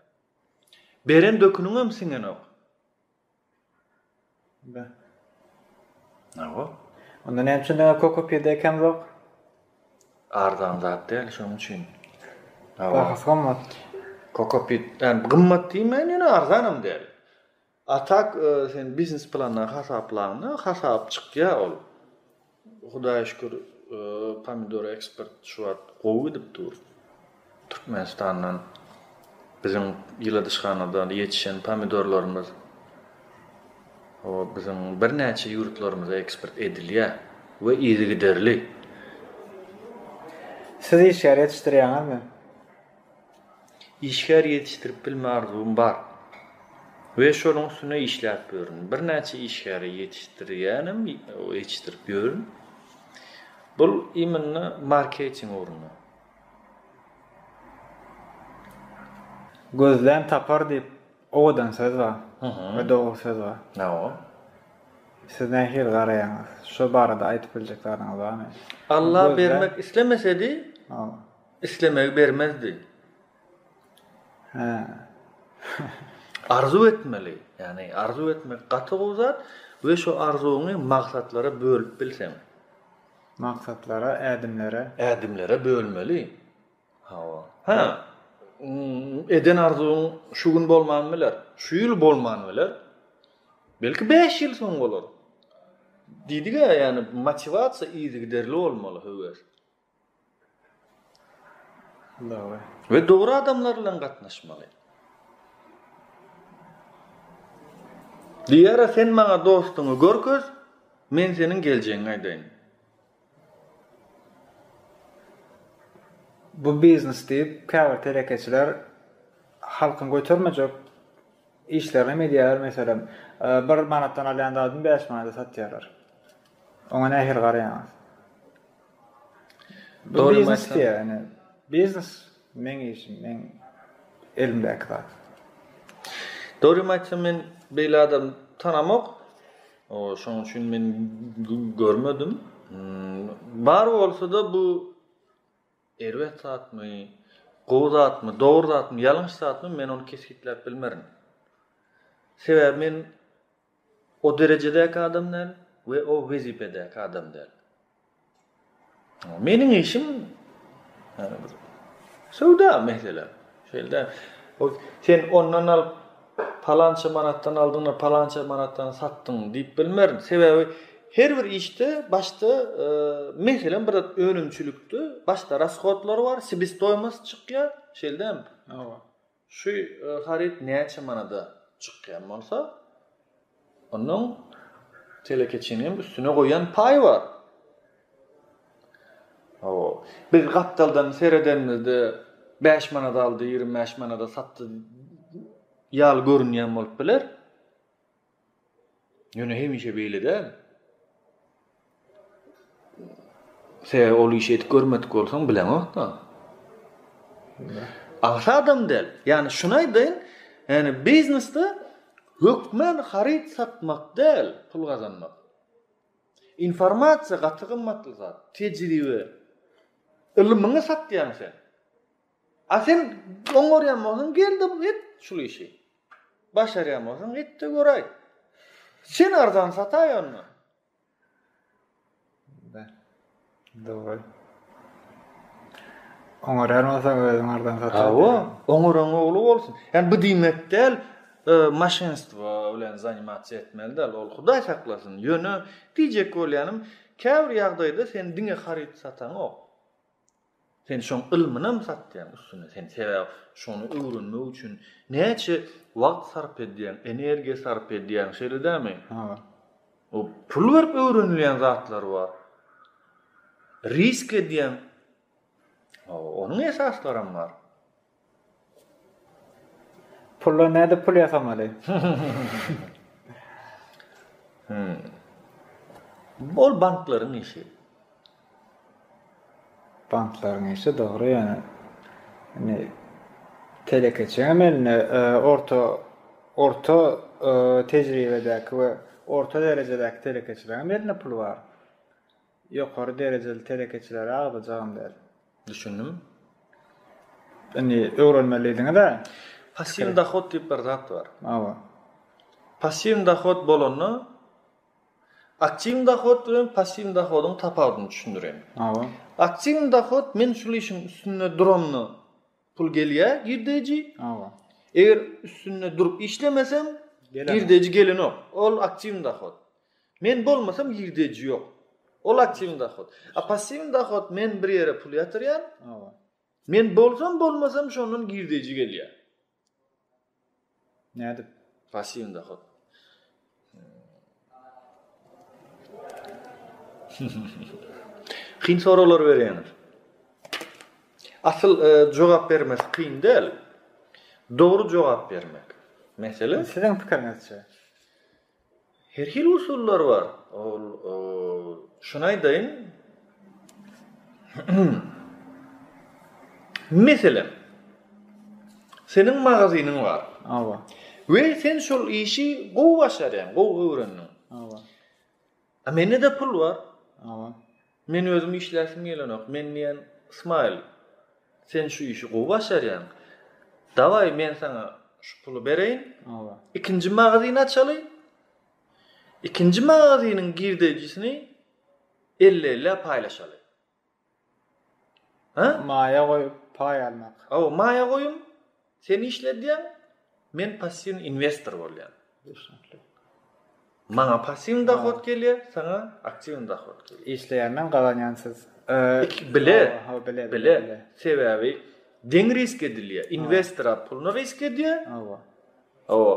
[SPEAKER 2] Beren döküniňem siňenok. Onda näme üçin
[SPEAKER 1] diňe kokopediýa ekämzok?
[SPEAKER 2] Arzan zat däl şonuň üçin. Bahasy
[SPEAKER 1] gymmat. Kokopit,
[SPEAKER 2] ýani gymmat diýmäýin ýöne arzanam däl. A tak sen biznes planda hasaplaňda hasap çykýar ol. Hudaýa şükür pomidor eksport şu wagt gowy gidip dur. Türkmenistandan biziň ýyladyşhanada ýetişen pomidorlarymyz biziň birnäçe ýurtlarymyza eksport edilýär we yzygiderli.
[SPEAKER 1] Siz işgär ýetişdirýäňizmi?
[SPEAKER 2] Işgär ýetişdirip bilme arzuwym bar we şonuň üstünde işläp ýörün. Birnäçe işgäri ýetişdirýänem, ýetişdirip ýörün. Bul imенно marketing ugruna.
[SPEAKER 1] Gözlän tapar diýip owadan söz bar we dogry söz bar. Hawa. Siz nähili garaýaňyz? Şo barada aýdyp biljek zadyňyz barmy? Alla bermek
[SPEAKER 2] islemesedi, Islemegi bermezdi. Arzuw etmeli. Ýagny arzuw etmek gaty gowy zat we şu arzuwyňy maksatlara bölüp bilseň. Maksatlara,
[SPEAKER 1] ädimlere. Ädimlere bölmeli.
[SPEAKER 2] Hawa. Hä. Eden arzuwyň şu gün bolman biler. Şu ýyl bolman biler. Belki bäş ýyl soň bolar. Diýdiga ýagny motiwasiýa yzygiderli bolmaly höwes.
[SPEAKER 1] we dogry
[SPEAKER 2] adamlar bilen gatnaşmaly. Diýara sen maňa dostuňy görkez, men seniň geljegiňi aýdaýyn.
[SPEAKER 1] Bu biznes diýip, käbir telekeçiler halkyň götermejek işlerini hem edýärler, meselem, bir manatdan alýan zadyny bäş manada satýarlar. Oňa nähili garaýaňyz? Bu biznes diýýär, ine.
[SPEAKER 2] Biznes,
[SPEAKER 1] meň işim, meň elimdäki zat.
[SPEAKER 2] Dogrymy aýtsam, men beýle adam tanamok. Şonuň üçin men görmedim. Bar bolsa-da, bu erbet zatmy, gowy zatmy, dogry zatmy, ýalňyş zatmy, men ony kesgitläp bilmerin. Sebäbi men. O derejedäki adam däl we o wezipedäki adam däl. Meniň işim ýa-da bir söwda meselem. Şeýle däl. Sen ondan alyp palança manatdan aldyňda palança manatdan satdyň diýip bilmerin. Sebäbi her bir işde başda meselem bir zat önümçilikde başda rashodlar bar, sebestoýmost çykýar. Şeýle dälmi? Hawa. Şu haryt näçe manada çykýan bolsa, onuň telekeçiniň üstüne goýan paýy bar. Hawa, biz gapdaldan seredenimizde bäş manada aldy, ýigrimi bäş manada satdy ýaly görünýän bolup biler. Ýöne hemişe beýle däl. Sebäbi ol işi edip görmedik bolsaň bileňok-da. Agsa adam däl. Ýani şuny aýdaýyn, ýani biznesde hökman haryt satmak däl pul gazanmak. Informasiýa gaty gymmatly zat, tejribe. Ylmyňy satýaň sen. A sen oňarýan bolsaň gel-de et şul işi. Başarýan bolsaň et-de göräý. Sen arzan sataý onda.
[SPEAKER 1] Daway. Oňarýan bolsaň özüň arzan sataý. Hawa, oňaran
[SPEAKER 2] ogly bolsun. Ýani bu diýmek däl, e, maşenstwo bilen zanimatsiýa etmeli däl, ol Hudaý saklasyn. Ýöne diýjek bolýanym, käbir ýagdaýda sen diňe haryt sataňok. Sen şoň ylmynam satýaň üstüne sen sebäp şony öwrenmek üçin näçe wagt sarp edýäň energiýa sarp edýäň şeýle dämi? Ha. O pul berip öwrenilýän zatlar bar. Risk edýäň. Onuň esaslaram bar.
[SPEAKER 1] Pulla nädip pul ýasamaly?
[SPEAKER 2] Ol banklaryň işi.
[SPEAKER 1] Banklaryň işi dogry ýöne. Indi telekeçiň eline orta orta tejribedäki we orta derejedäki telekeçileriň eline pul bar. Ýokary derejeli telekeçileri agzajagam däl. Düşündim. Indi öwrenmeli diýdiňiz-ä. Passiwny dohod
[SPEAKER 2] diýip bir zat bar. Hawa. Passiwny dohod bolanda aktiwny dohod bilen passiwny dohodyň tapawudyny düşündireýin. Hawa. Aktiwny dohod men şul işiň üstünde duramda Pul gelýä girdeji. Hawa. Eger üstünde durup işlemesem, girdeji gelenok. Ol aktiwny dahod. Men bolmasam girdeji ýok. Ol aktiwny dahod. A passiwny dahod men bir ýere pul ýatyrýan. Hawa. Men bolsam bolmasam şondan girdeji gelýä.
[SPEAKER 1] Nädip? Pasiwny-da hut.
[SPEAKER 2] Kyn soraglar berýäňiz. Asyl jogap bermesi kyn däl. Dogry jogap bermek. Mesele. Siziň pikiriňizçe. Her hili usullar bar. Ol şuny aýdaýyn. Meselem, seniň magazynyň bar. Awa. We sen şol işi gowy başarýaň, gowy öwrendiň. Awa. A mende-de pul bar. Awa. Men özüm işläsim gelenok, men diýen Smile sen şu işi gowy başarýaň. Dawaý men saňa şu puly bereýin. Hawa. Ikinji magazyn açaly. Ikinji magazynyň girdeýjisini 50-50 paýlaşaly. Ha?
[SPEAKER 1] Maýa goýup paý almak. Hawa, maýa goýum.
[SPEAKER 2] Sen işledýäň, men passiwny inwestor bolýan. Düşünikli. Maňa passiwny dohod gelýä, saňa aktiwny dohod gelýä. Işleýänden gazanýan
[SPEAKER 1] siz.
[SPEAKER 2] Iki bile. Hawa, bile, bile. Sebäbi deň risk edilýä. Inwestor puluny risk edýä. Hawa. Hawa.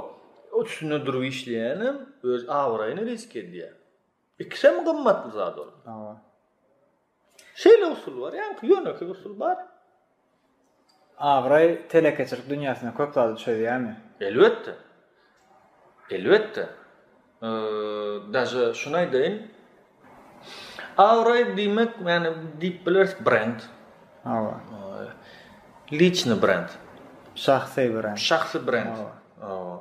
[SPEAKER 2] Üstünde durup işleýänem öz abraýyny risk edýä. Ikisem gymmatly zat ol. Hawa. Şeýle usul bar, ýaňky ýönekeý usul bar. Abraý
[SPEAKER 1] telekeçilik dünýäsinde köp zady çözýärmi? Elbetde.
[SPEAKER 2] Elbetde. Daže şuny aýdaýyn. Abraý diýmek, ýani diýip bileris brend. Hawa. Liçny brend. Şahsy brend. Şahsy brend. Hawa.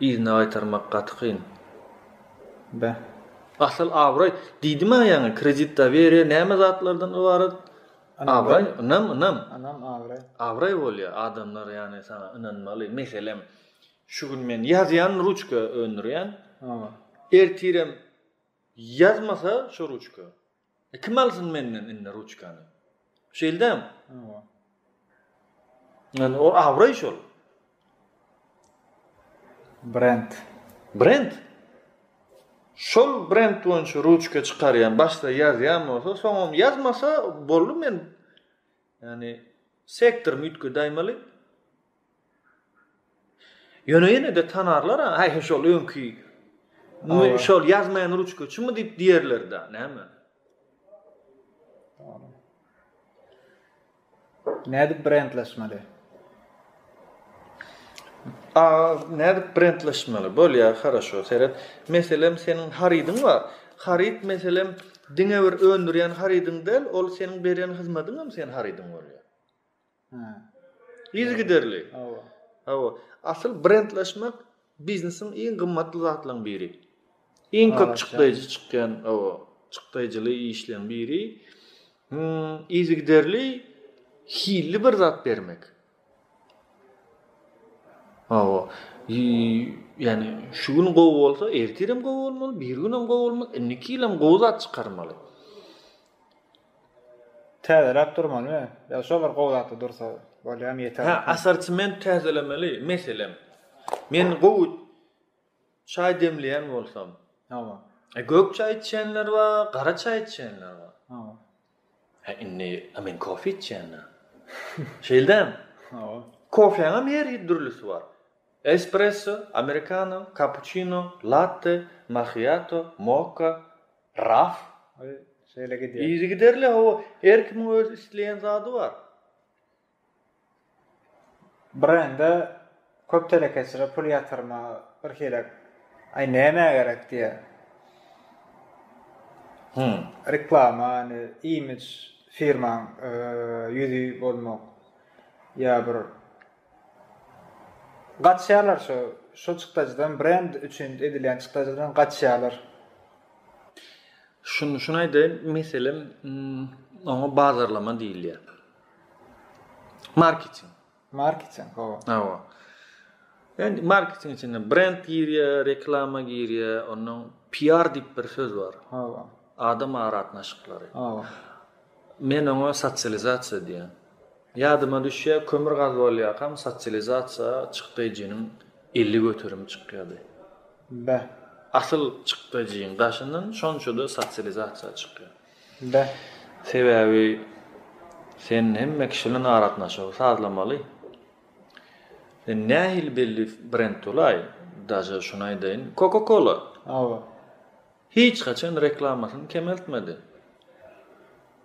[SPEAKER 2] Yzyna gaýtarmak gaty kyn. Beh. Asyl abraý, diýdimä ýaňy, kredit doweriýa näme zatlardan ybarat? Abraý, ynam, ynam. Ynam, abraý. Abraý bolýar, adamlar ýany saňa ynanmaly. Meselem, şu gün men ýazýan ruçka öndürýän. Ertirem ýazmasa şu ruçka, E kim alsyn menden indi ruçkany? Şeýldem. Hawa. Yani o abraý şol. Brend. Brend. Şol brend boýunça ruçka çykarýan, başda ýazýan bolsa, soňam ýazmasa boldy men. Yani sektor mütke daýmaly. Ýöne ýene-de tanarlar-a, Häý, şol öňki, şol ýazmaýan ruçkaçymy diýip diýerler-dä, näme?
[SPEAKER 1] Nädip brendleşmeli?
[SPEAKER 2] A, nädip brendleşmeli? Bolýar, haraşo, seret. Meselem, seniň harydyň bar. Haryt, meselem, diňe bir öndürýän harydyň däl, ol seniň berýän hyzmatyňam seniň harydyň bolýar. Yzygiderli. Hawa. Hawa. Asyl brendleşmek biznesiň iň gymmatly zatlaryň biri. Iň köp çykdaýjy çykýan, hawa, çykdaýjyly işleň biri. Hmm, yzygiderli hilli bir zat bermek. Hawa. Yani şu gün gowy bolsa, ertirem gowy bolmaly, bir günem gowy bolmaly, indiki ýylam gowy zat çykarmaly.
[SPEAKER 1] Täzeläp durmalymy ýa şo bir gowy zatda dursa bolýamy ýeterlik. Hä asartiment
[SPEAKER 2] täzelemeli meselem men gowy çaý demleýän bolsam Hawa. E gök çaý içýänler bar gara çaý içýänler bar. Hawa. Hä indi a men kofe içýänä. Şeýldämi? Hawa. Kofeňem her hil dürlüsi bar. Espresso, amerikano, kapuçino, latte, mahiato, mokka. Raf şeýle
[SPEAKER 1] gidýär. Yzygiderli hawa,
[SPEAKER 2] her kimiň öz isleýän zady bar.
[SPEAKER 1] Brende köp telekeçilere pul ýatyrma birhili aý nämä gerek diýýär. Hum. Reklama, indi imidž firmaň ýüzi bolmak ýa bir Gaçýarlar şo şo çykdajydan brend üçin edilýän çykdajydan gaçýarlar.
[SPEAKER 2] Şun şuny aýdaýyn meselem oňa bazarlama diýilýär. Marketing. Marketing hawa. Hawa. Yani marketing içinde brend girýär, reklama girýär, ondan PR diýip bir söz bar. Hawa. Adam aragatnaşyklary. Men oňa sosializasiýa diýýän. Ýadyma düşýär, kömür gaz bolýarkam sosializasiýa çykdajynyň elli göterim çykýardy. Be. Asyl çykdajyň daşyndan şonça-da sosializasiýa çykýar. Be. Sebäbi sen hemme kişi bilen aragatnaşygy sazlamaly. Sen nähili belli brend bolaý, daže şuny aýdaýyn, Coca-Cola. Hawa. Hiç haçan reklamasyny kemeltmedi.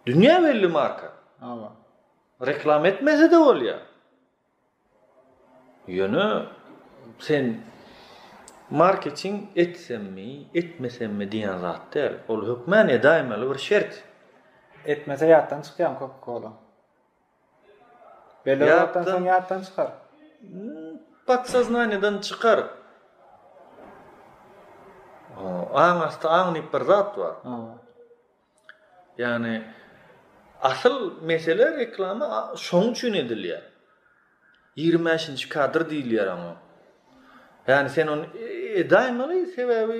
[SPEAKER 2] Dünýä belli marka. Hawa. Reklama etmese-de bolýar. Ýöne sen marketing etsemmi, etmesemmi diýen zat däl. Ol hökmän edäýmeli bir şert. Etmese
[SPEAKER 1] ýatdan çykýan Coca-Cola. Belli wagtdan soň ýatdan çykar. Podsoznaniýadan
[SPEAKER 2] çykar. Aň asty aň diýip bir zat bar. Ýagny asyl mesele reklama şoň üçin edilýär. Ýigrimi bäşinji kadr diýilýär oňa. Ýagny sen ony edäýmeli, sebäbi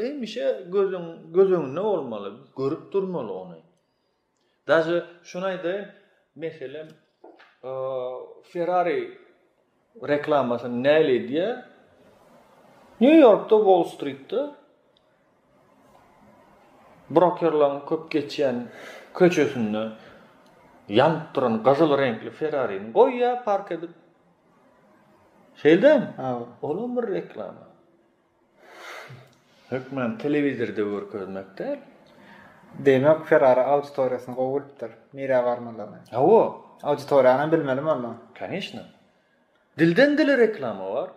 [SPEAKER 2] hemişe gözüň göz öňünde bolmaly, görüp durmaly ony. Daže şuny aýdaýyn, meselem, Ferrari reklamasyny näle edýär? Nýu-Ýorkda, Wall-Stritde brokerlaryň köp geçýän köçesinde ýanyp duran gyzyl reňkli Ferrarini goýýar park edip. Şeýldämi? Olam bir reklama. Hökman telewizorda görkezmek däl.
[SPEAKER 1] Demek Ferrari auditoriýasyny gowy bilipdir, nirä barmalyny. Hawa.
[SPEAKER 2] Auditoriýanam
[SPEAKER 1] bilmelimi onda? Kanyşna.
[SPEAKER 2] Dilden dile reklama bar.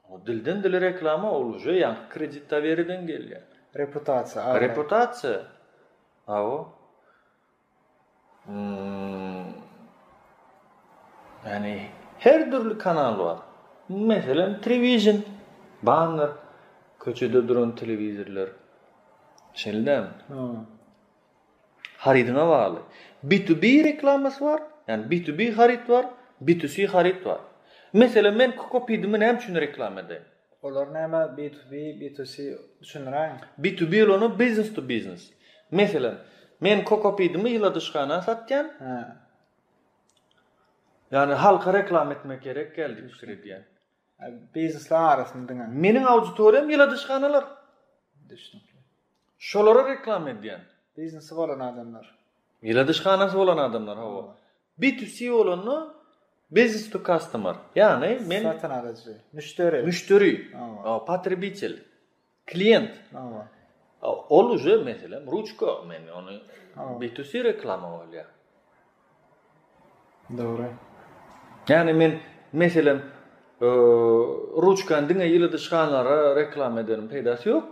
[SPEAKER 2] O dilden dile reklama ol uje ýaňky kredit doweriden gelýär. Reputasiýa.
[SPEAKER 1] Reputasiýa.
[SPEAKER 2] Hawa. Ýagny her dürli kanal bar. Meselem, triwizion, banner, köçede duran telewizorlar. Şeýle-dämi? Harydyňa bagly. B2B reklamasy bar, ýagny B2B haryt bar, B2C haryt bar. Meselem, men kokopidimi näme üçin reklama edeýin? Olar näme B
[SPEAKER 1] to B, B to C düşündiräýiň. B to B bolany
[SPEAKER 2] business to business. Meselem, men kokopidimi ýyladyşhana satýan. Hä. Ýani halka reklama etmek gerek däl diýip pikir edýän. Biznesler
[SPEAKER 1] arasynda diňe. Meniň auditoriýam
[SPEAKER 2] ýyladyşhanalar. Düşnükli.
[SPEAKER 1] Şolara
[SPEAKER 2] reklama edýän. Biznesi bolan
[SPEAKER 1] adamlar. Ýyladyşhanasy
[SPEAKER 2] bolan adamlar hawa. B2C bolanda business to customer. Ýagny men satyn alyjy,
[SPEAKER 1] müşderi. Müşderi.
[SPEAKER 2] Hawa. Potrebitel. Klient. Hawa. Ol uje meselem ruçka men ony B2C reklama bolýar.
[SPEAKER 1] Dogry. Ýagny
[SPEAKER 2] men meselem ruçkany diňe ýyly dyşganlara reklama edeniň peýdasy ýok.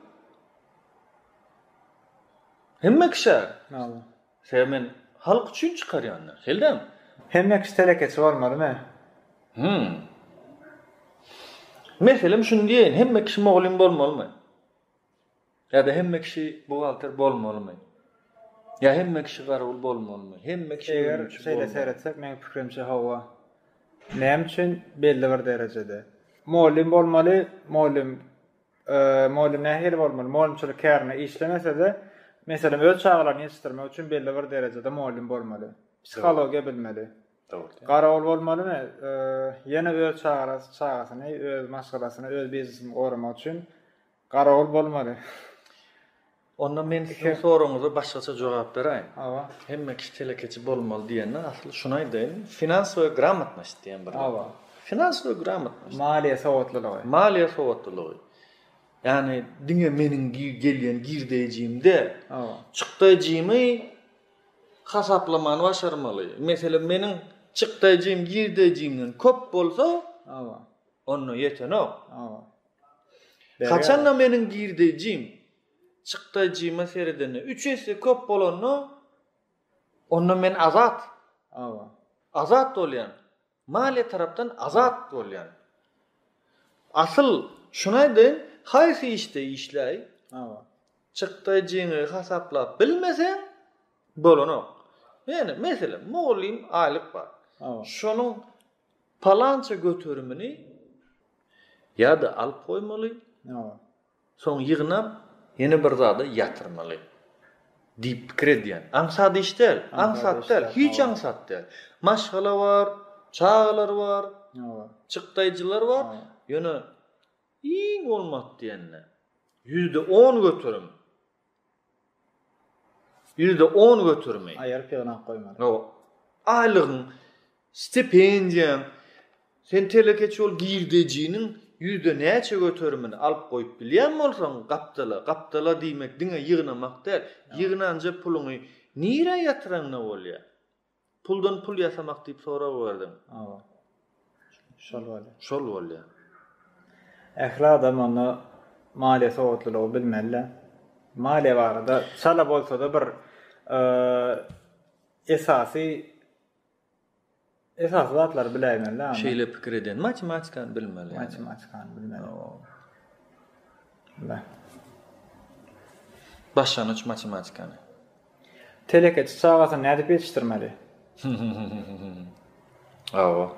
[SPEAKER 2] Hemme kişä. Mawy. Sebäbi men halk üçin çykarýan. Heldem. Hemme kişi
[SPEAKER 1] telekeçi bolmaly me? Hmm.
[SPEAKER 2] Meselem şuny diýeýin, hemme kişi mugallym bolmalymy? Ýa-da hemme kişi buhgalter bolmalymy? Ýa hemme kişi garawul bolmalymy? Hemme kişi ölümçi bolmalymy? Eger şeýle
[SPEAKER 1] seretsek, meniň pikirimçe hawa. Näme üçin? Belli bir derejede. Mugallym bolmaly, mugallym mugallym nähili bolmaly? Mugallymçylyk kärine işlemese-de, meselem, öz çagalaryny ýetişdirmek üçin belli bir derejede mugallym bolmaly. Psihologiýa bilmeli. Dogry. Garawul bolmalymy? Ýene öz çagalaryny, öz maşgalasyny, öz biznesini goramak üçin Garawul bolmaly.
[SPEAKER 2] Onda men siziň soragyňyza başgaça jogap beräýin. Hawa. Hemme kişi
[SPEAKER 1] telekeçi
[SPEAKER 2] bolmaly diýenden asyl şuny aýdaýyn. Finansowa gramotnost diýen bir. Hawa. Finansowa gramotnost. Maliýe sowatlylygy.
[SPEAKER 1] Maliýe sowatlylygy.
[SPEAKER 2] Ýagny diňe meniň gelýän girdeýjim däl. Hawa. Çykdaýjymy hasaplamany başarmaly. Meselem meniň çykdaýjym girdeýjimden köp bolsa, hawa, onda ýetenok. Hawa. Haçanda meniň girdejim çykdajyma seredende üç esse köp bolanda, onda men azat. Awa. Azat bolýan. Maliýe tarapdan azat bolýan. Asyl şuny aýdaýyn, haýsy işde işläý? Awa. Çykdajyňy hasaplap bilmeseň, bolanok. Ýöne meselem, mugallym aýlyk bar. Awa. Şonuň Palança göterimini ýa-da alyp goýmaly, soň ýygnap, ýene bir zada ýatyrmaly diýip pikir edýän. Aňsat iş däl, aňsat däl, hiç aňsat däl. Maşgala bar, çagalar bar, çykdaýjylar bar, ýöne iň bolmady diýende, ýüzde on göterim. Ýüzde on götermeý. Aýyryp ýygnap goýmaly.
[SPEAKER 1] Hawa. Aýlygyň,
[SPEAKER 2] stipendiýaň, sen telekeçi bolup girdejiniň ýüzde näçe göterimini alyp goýup bilýän bolsaň gapdala, gapdala diýmek diňe ýygnamak däl, ýygnanja puluňy nirä ýatyraňda bolýar. Puldan pul ýasamak diýip sorag berdiň. Hawa. Şol bolýar. Şol bolýar.
[SPEAKER 1] Ähli adam onda maliýe sowatlylygy bilmeli-dä. Maliýe barada çala bolsa-da bir esasy esasy zatlary biläýmeli-dä. Şeýle pikir edýän.
[SPEAKER 2] Matematikany bilmeli. Matematikany
[SPEAKER 1] bilmeli.
[SPEAKER 2] Başlangyç matematikany.
[SPEAKER 1] Telekeçi çagasyny nädip ýetişdirmeli?
[SPEAKER 2] Awa.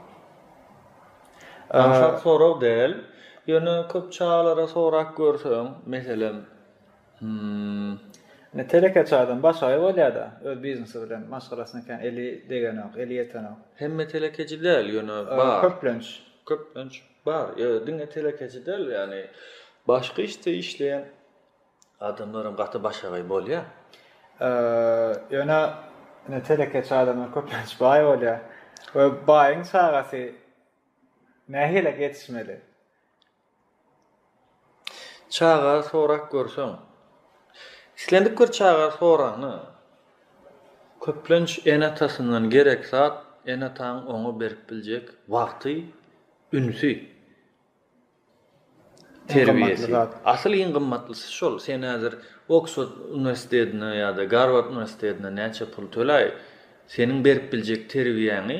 [SPEAKER 2] Aňsat sorag däl. Ýöne köp çagalara sorap görseň, meselem, hmm,
[SPEAKER 1] Ine telekeçi adam başagaý bolýar-da, öz biznesi bilen, maşgalasyna kän eli degenok, eli ýetenok. Hemme telekeçi
[SPEAKER 2] däl, ýöne bar. Köplenç. Köplenç.
[SPEAKER 1] Bar, ýöne
[SPEAKER 2] diňe telekeçi däl, ýagny başga işde işleýän adamlaram gaty başagaý bolýar.
[SPEAKER 1] Ýöne ine telekeçi adamlar köplenç baý bolýar. We baýyň çagasy nähili ýetişmeli?
[SPEAKER 2] Çaga sorap görseň. Islendik bir çaga soranda, köplenç ene-atasyndan gerek zat, ene-ataň oňa berip biljek wagty, ünsi, terbiýesi. Asyl iň gymmatlysy şol. Sen häzir Oksford uniwersitetine ýa-da Garward uniwersitetine näçe pul töläý, seniň berip biljek terbiýäňi,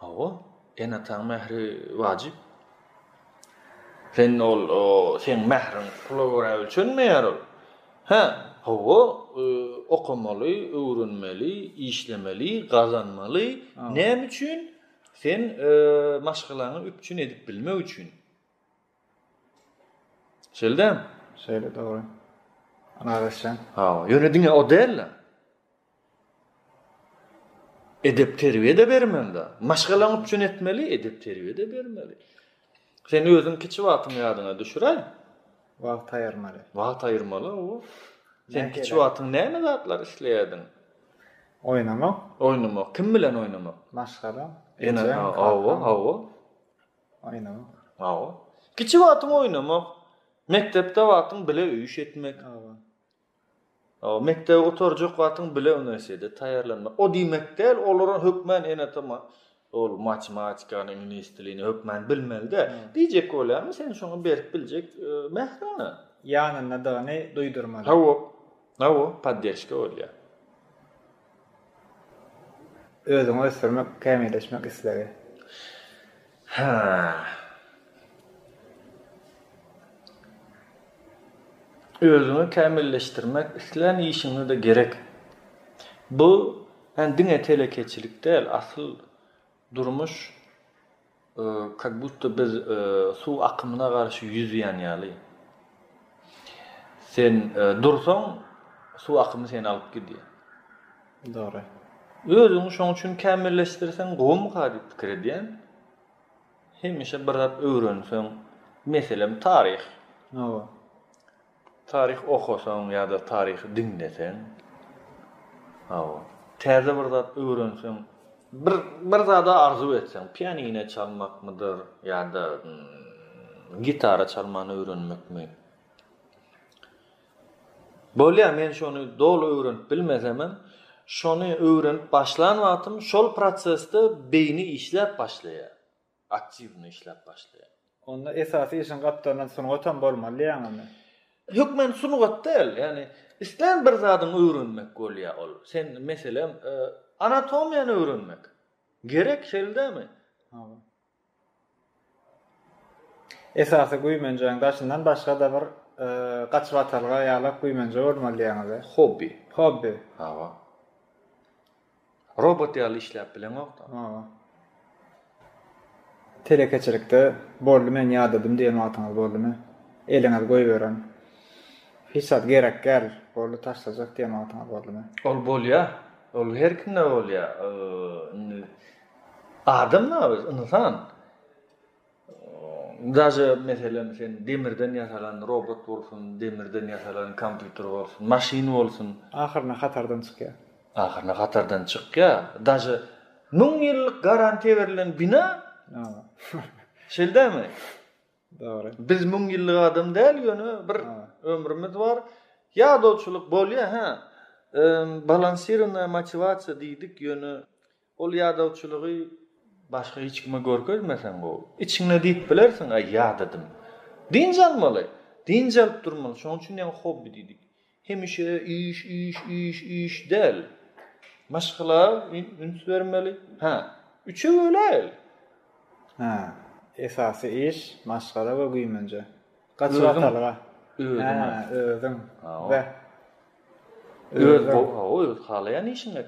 [SPEAKER 2] Hawa, ene-ataň mähri wajyp. Sen ol, seň mähriň pula görä ölçenmeýär ol. Hä, hawa, okamaly, öwrenmeli, işlemeli, gazanmaly. Näme üçin? Sen maşgalaňy üpjün edip bilmek üçin. Şeýle dälmi? Şeýle dogry.
[SPEAKER 1] Ylalaşýan. Hawa, ýöne
[SPEAKER 2] diňe o däl-de. Edep-terbiýe-de bermeli-de. Maşgalaň üçin etmeli, edep-terbiýe-de bermeli. Sen özüň kiçi wagtyňy ýadyňa düşüräý. Wagt
[SPEAKER 1] aýyrmaly. Wagt aýyrmaly,
[SPEAKER 2] hawa. Sen kiçi wagtyň näme zatlar isleýärdiň? Oýnamak. Oýnamak. Kim bilen oýnamak? Maşgala.
[SPEAKER 1] Ene, hawa, hawa.
[SPEAKER 2] Aýnaň. Hawa. Kiçi wagtyň oýnamak, mekdepde wagtyň bile öýüş etmek. Hawa. Hawa, mekdebe oturjak wagtyň bile uniwersitetde taýýarlanmak. O diýmek däl, olara hökmän ene-ata ma, ol matematikany, iňlis dilini hökmän bilmeli däl. Diýjek bolýarym, sen şoňa berip biljek mährini. Ýanyndadygyny
[SPEAKER 1] duýdurmaly. Hawa. Hawa,
[SPEAKER 2] podderşka bolýar.
[SPEAKER 1] Özüňi ösdürmek, kämilleşmek islegi.
[SPEAKER 2] Özüňi kämilleşdirmek islän işiňde-de gerek. Bu diňe telekeçilik däl, asyl durmuş Kak budda biz suw akymyna garşy ýüzýän ýaly. Sen dursaň, suw akymy seni alyp gidýär. Dogry.
[SPEAKER 1] Özüňi
[SPEAKER 2] şoň üçin kämilleşdirseň gowumyka diýip pikir edýän. Hemişe bir zat öwrenseň, meselem taryh. Hawa. Taryh okasaň ýa-da taryhy diňleseň, hawa, täze bir zat öwrenseň, bir bir zada arzuw etseň, pianine çalmakmydyr ýa-da gitara çalmany öwrenmekmi? Bolýar, men şony doly öwrenip bilmesemem, şony öwrenip başlan wagtym şol prosesde beýni işläp başlaýar. aktiwny işläp başlaýar. Onda esasy
[SPEAKER 1] işiň gapdalyndan sungatam bolmaly diýýäňmi indi? Hökmen
[SPEAKER 2] sungat däl, ýagny islän bir zadyňy öwrenmek bolýar ol. Sen, meselem, anatomiýany öwrenmek gerek, şeýle dälmi? Hawa.
[SPEAKER 1] Esasy güýmenjeň daşyndan başga-da bir gaçybatalga ýalak güýmenje bolmaly diýýäňiz-ä? Hobbi. Hobbi. Hawa.
[SPEAKER 2] Robot ýaly işläp bileňokda. Hawa.
[SPEAKER 1] Telekeçilikde boldy men ýadadym diýen wagtyňyz boldumy? Eliňizi goýberen. Hiç zat gerek däl, boldy taşlajak diýen wagtyňyz boldumy? Ol bolýar.
[SPEAKER 2] Ol her kimde bolýar. Indi adam-la biz, ynsan. Daže meselem sen demirden ýasalan robot bolsun, demirden ýasalan kompýuter bolsun, maşyn bolsun. Ahyryna hatardan
[SPEAKER 1] çykýar. Ahyryna hatardan çykýar.
[SPEAKER 2] Daže müň ýyllyk garantiýa berlen bina. Şeýle dälmi? Dogry.
[SPEAKER 1] Biz müň ýyllyk
[SPEAKER 2] adam däl ýöne bir ömrümiz bar. Ýadawçylyk bolýar hä. Balansirownaýa motiwasiýa diýdik ýöne. Ol ýadawçylygy başga hiç kime görkezmeseň gowy. Içiňde diýip bilersiň, Aý, ýadadym. Dynç almaly. Dynç alyp durmaly. Şonuň üçin ýaňy hobbi diýdik. Hemişe iş, iş, iş, iş däl. Maşgala üns bermeli. Hä, üçe böläýeli. Hä,
[SPEAKER 1] esasy iş, maşgala we güýmenje. Gaçyp atalyga.
[SPEAKER 2] Özüň.
[SPEAKER 1] Hä,
[SPEAKER 2] özüň. Be. Öz, hawa, öz halaýan işiňe.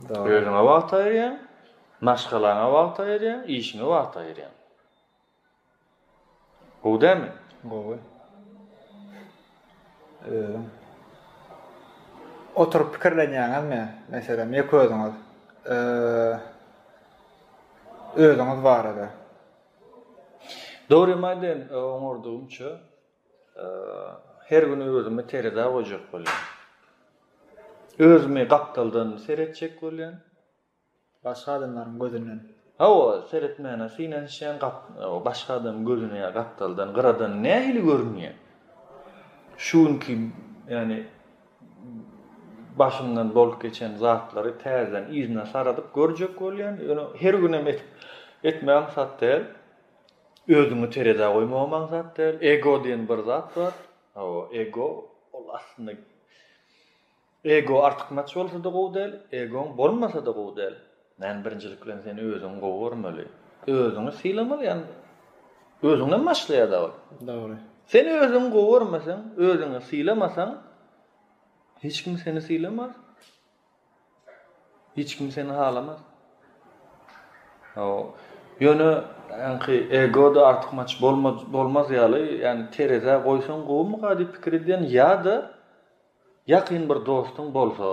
[SPEAKER 1] Özüňe wagt
[SPEAKER 2] aýyrýaň, maşgalaňa wagt aýyrýaň, işiňe wagt aýyrýaň. Gowy dälmi? Gowy.
[SPEAKER 1] Özüň oturyp pikirlenýäňizmi, meselem, ýeke özüňiz özüňiz barada?
[SPEAKER 2] Dogrymy aýdaýyn, oňardygymça, Her gün özümi terezä goýjak bolýan. Özümi gapdaldan seretjek bolýan. Başga
[SPEAKER 1] adamlaryň gözünden. Hawa,
[SPEAKER 2] seretmäne synanyşýan, başga adamyň gözüne ýa gapdaldan, gyradan nähili görünýän. Şu günki, ýagny başymdan bolup geçen zatlary täzeden yzyna saradyp görjek bolýan. Ýöne her günem etmäge aňsat däl. Özüňi terezä goýmagam aňsat däl. Ego diýen bir zat bar. Hawa, ego ol aslynda ego artykmaç bolsa-da gowy däl, egoň bolmasa-da gowy däl. Ýani birinjilik bilen sen özüňi gowy görmeli. Özüňi sylamaly, ýani özüňden başlaýar-da ol. Dogry. Sen
[SPEAKER 1] özüňi
[SPEAKER 2] gowy görmeseň, özüňi sylamasaň, hiç kim seni sylamaz. Hiç kim seni halamaz. Ýöne ýaňky ego-da artykmaç bolmaz ýaly, ýagny terezä goýsaň gowumyka diýip pikir edýän ýa-da ýakyn bir dostuň bolsa,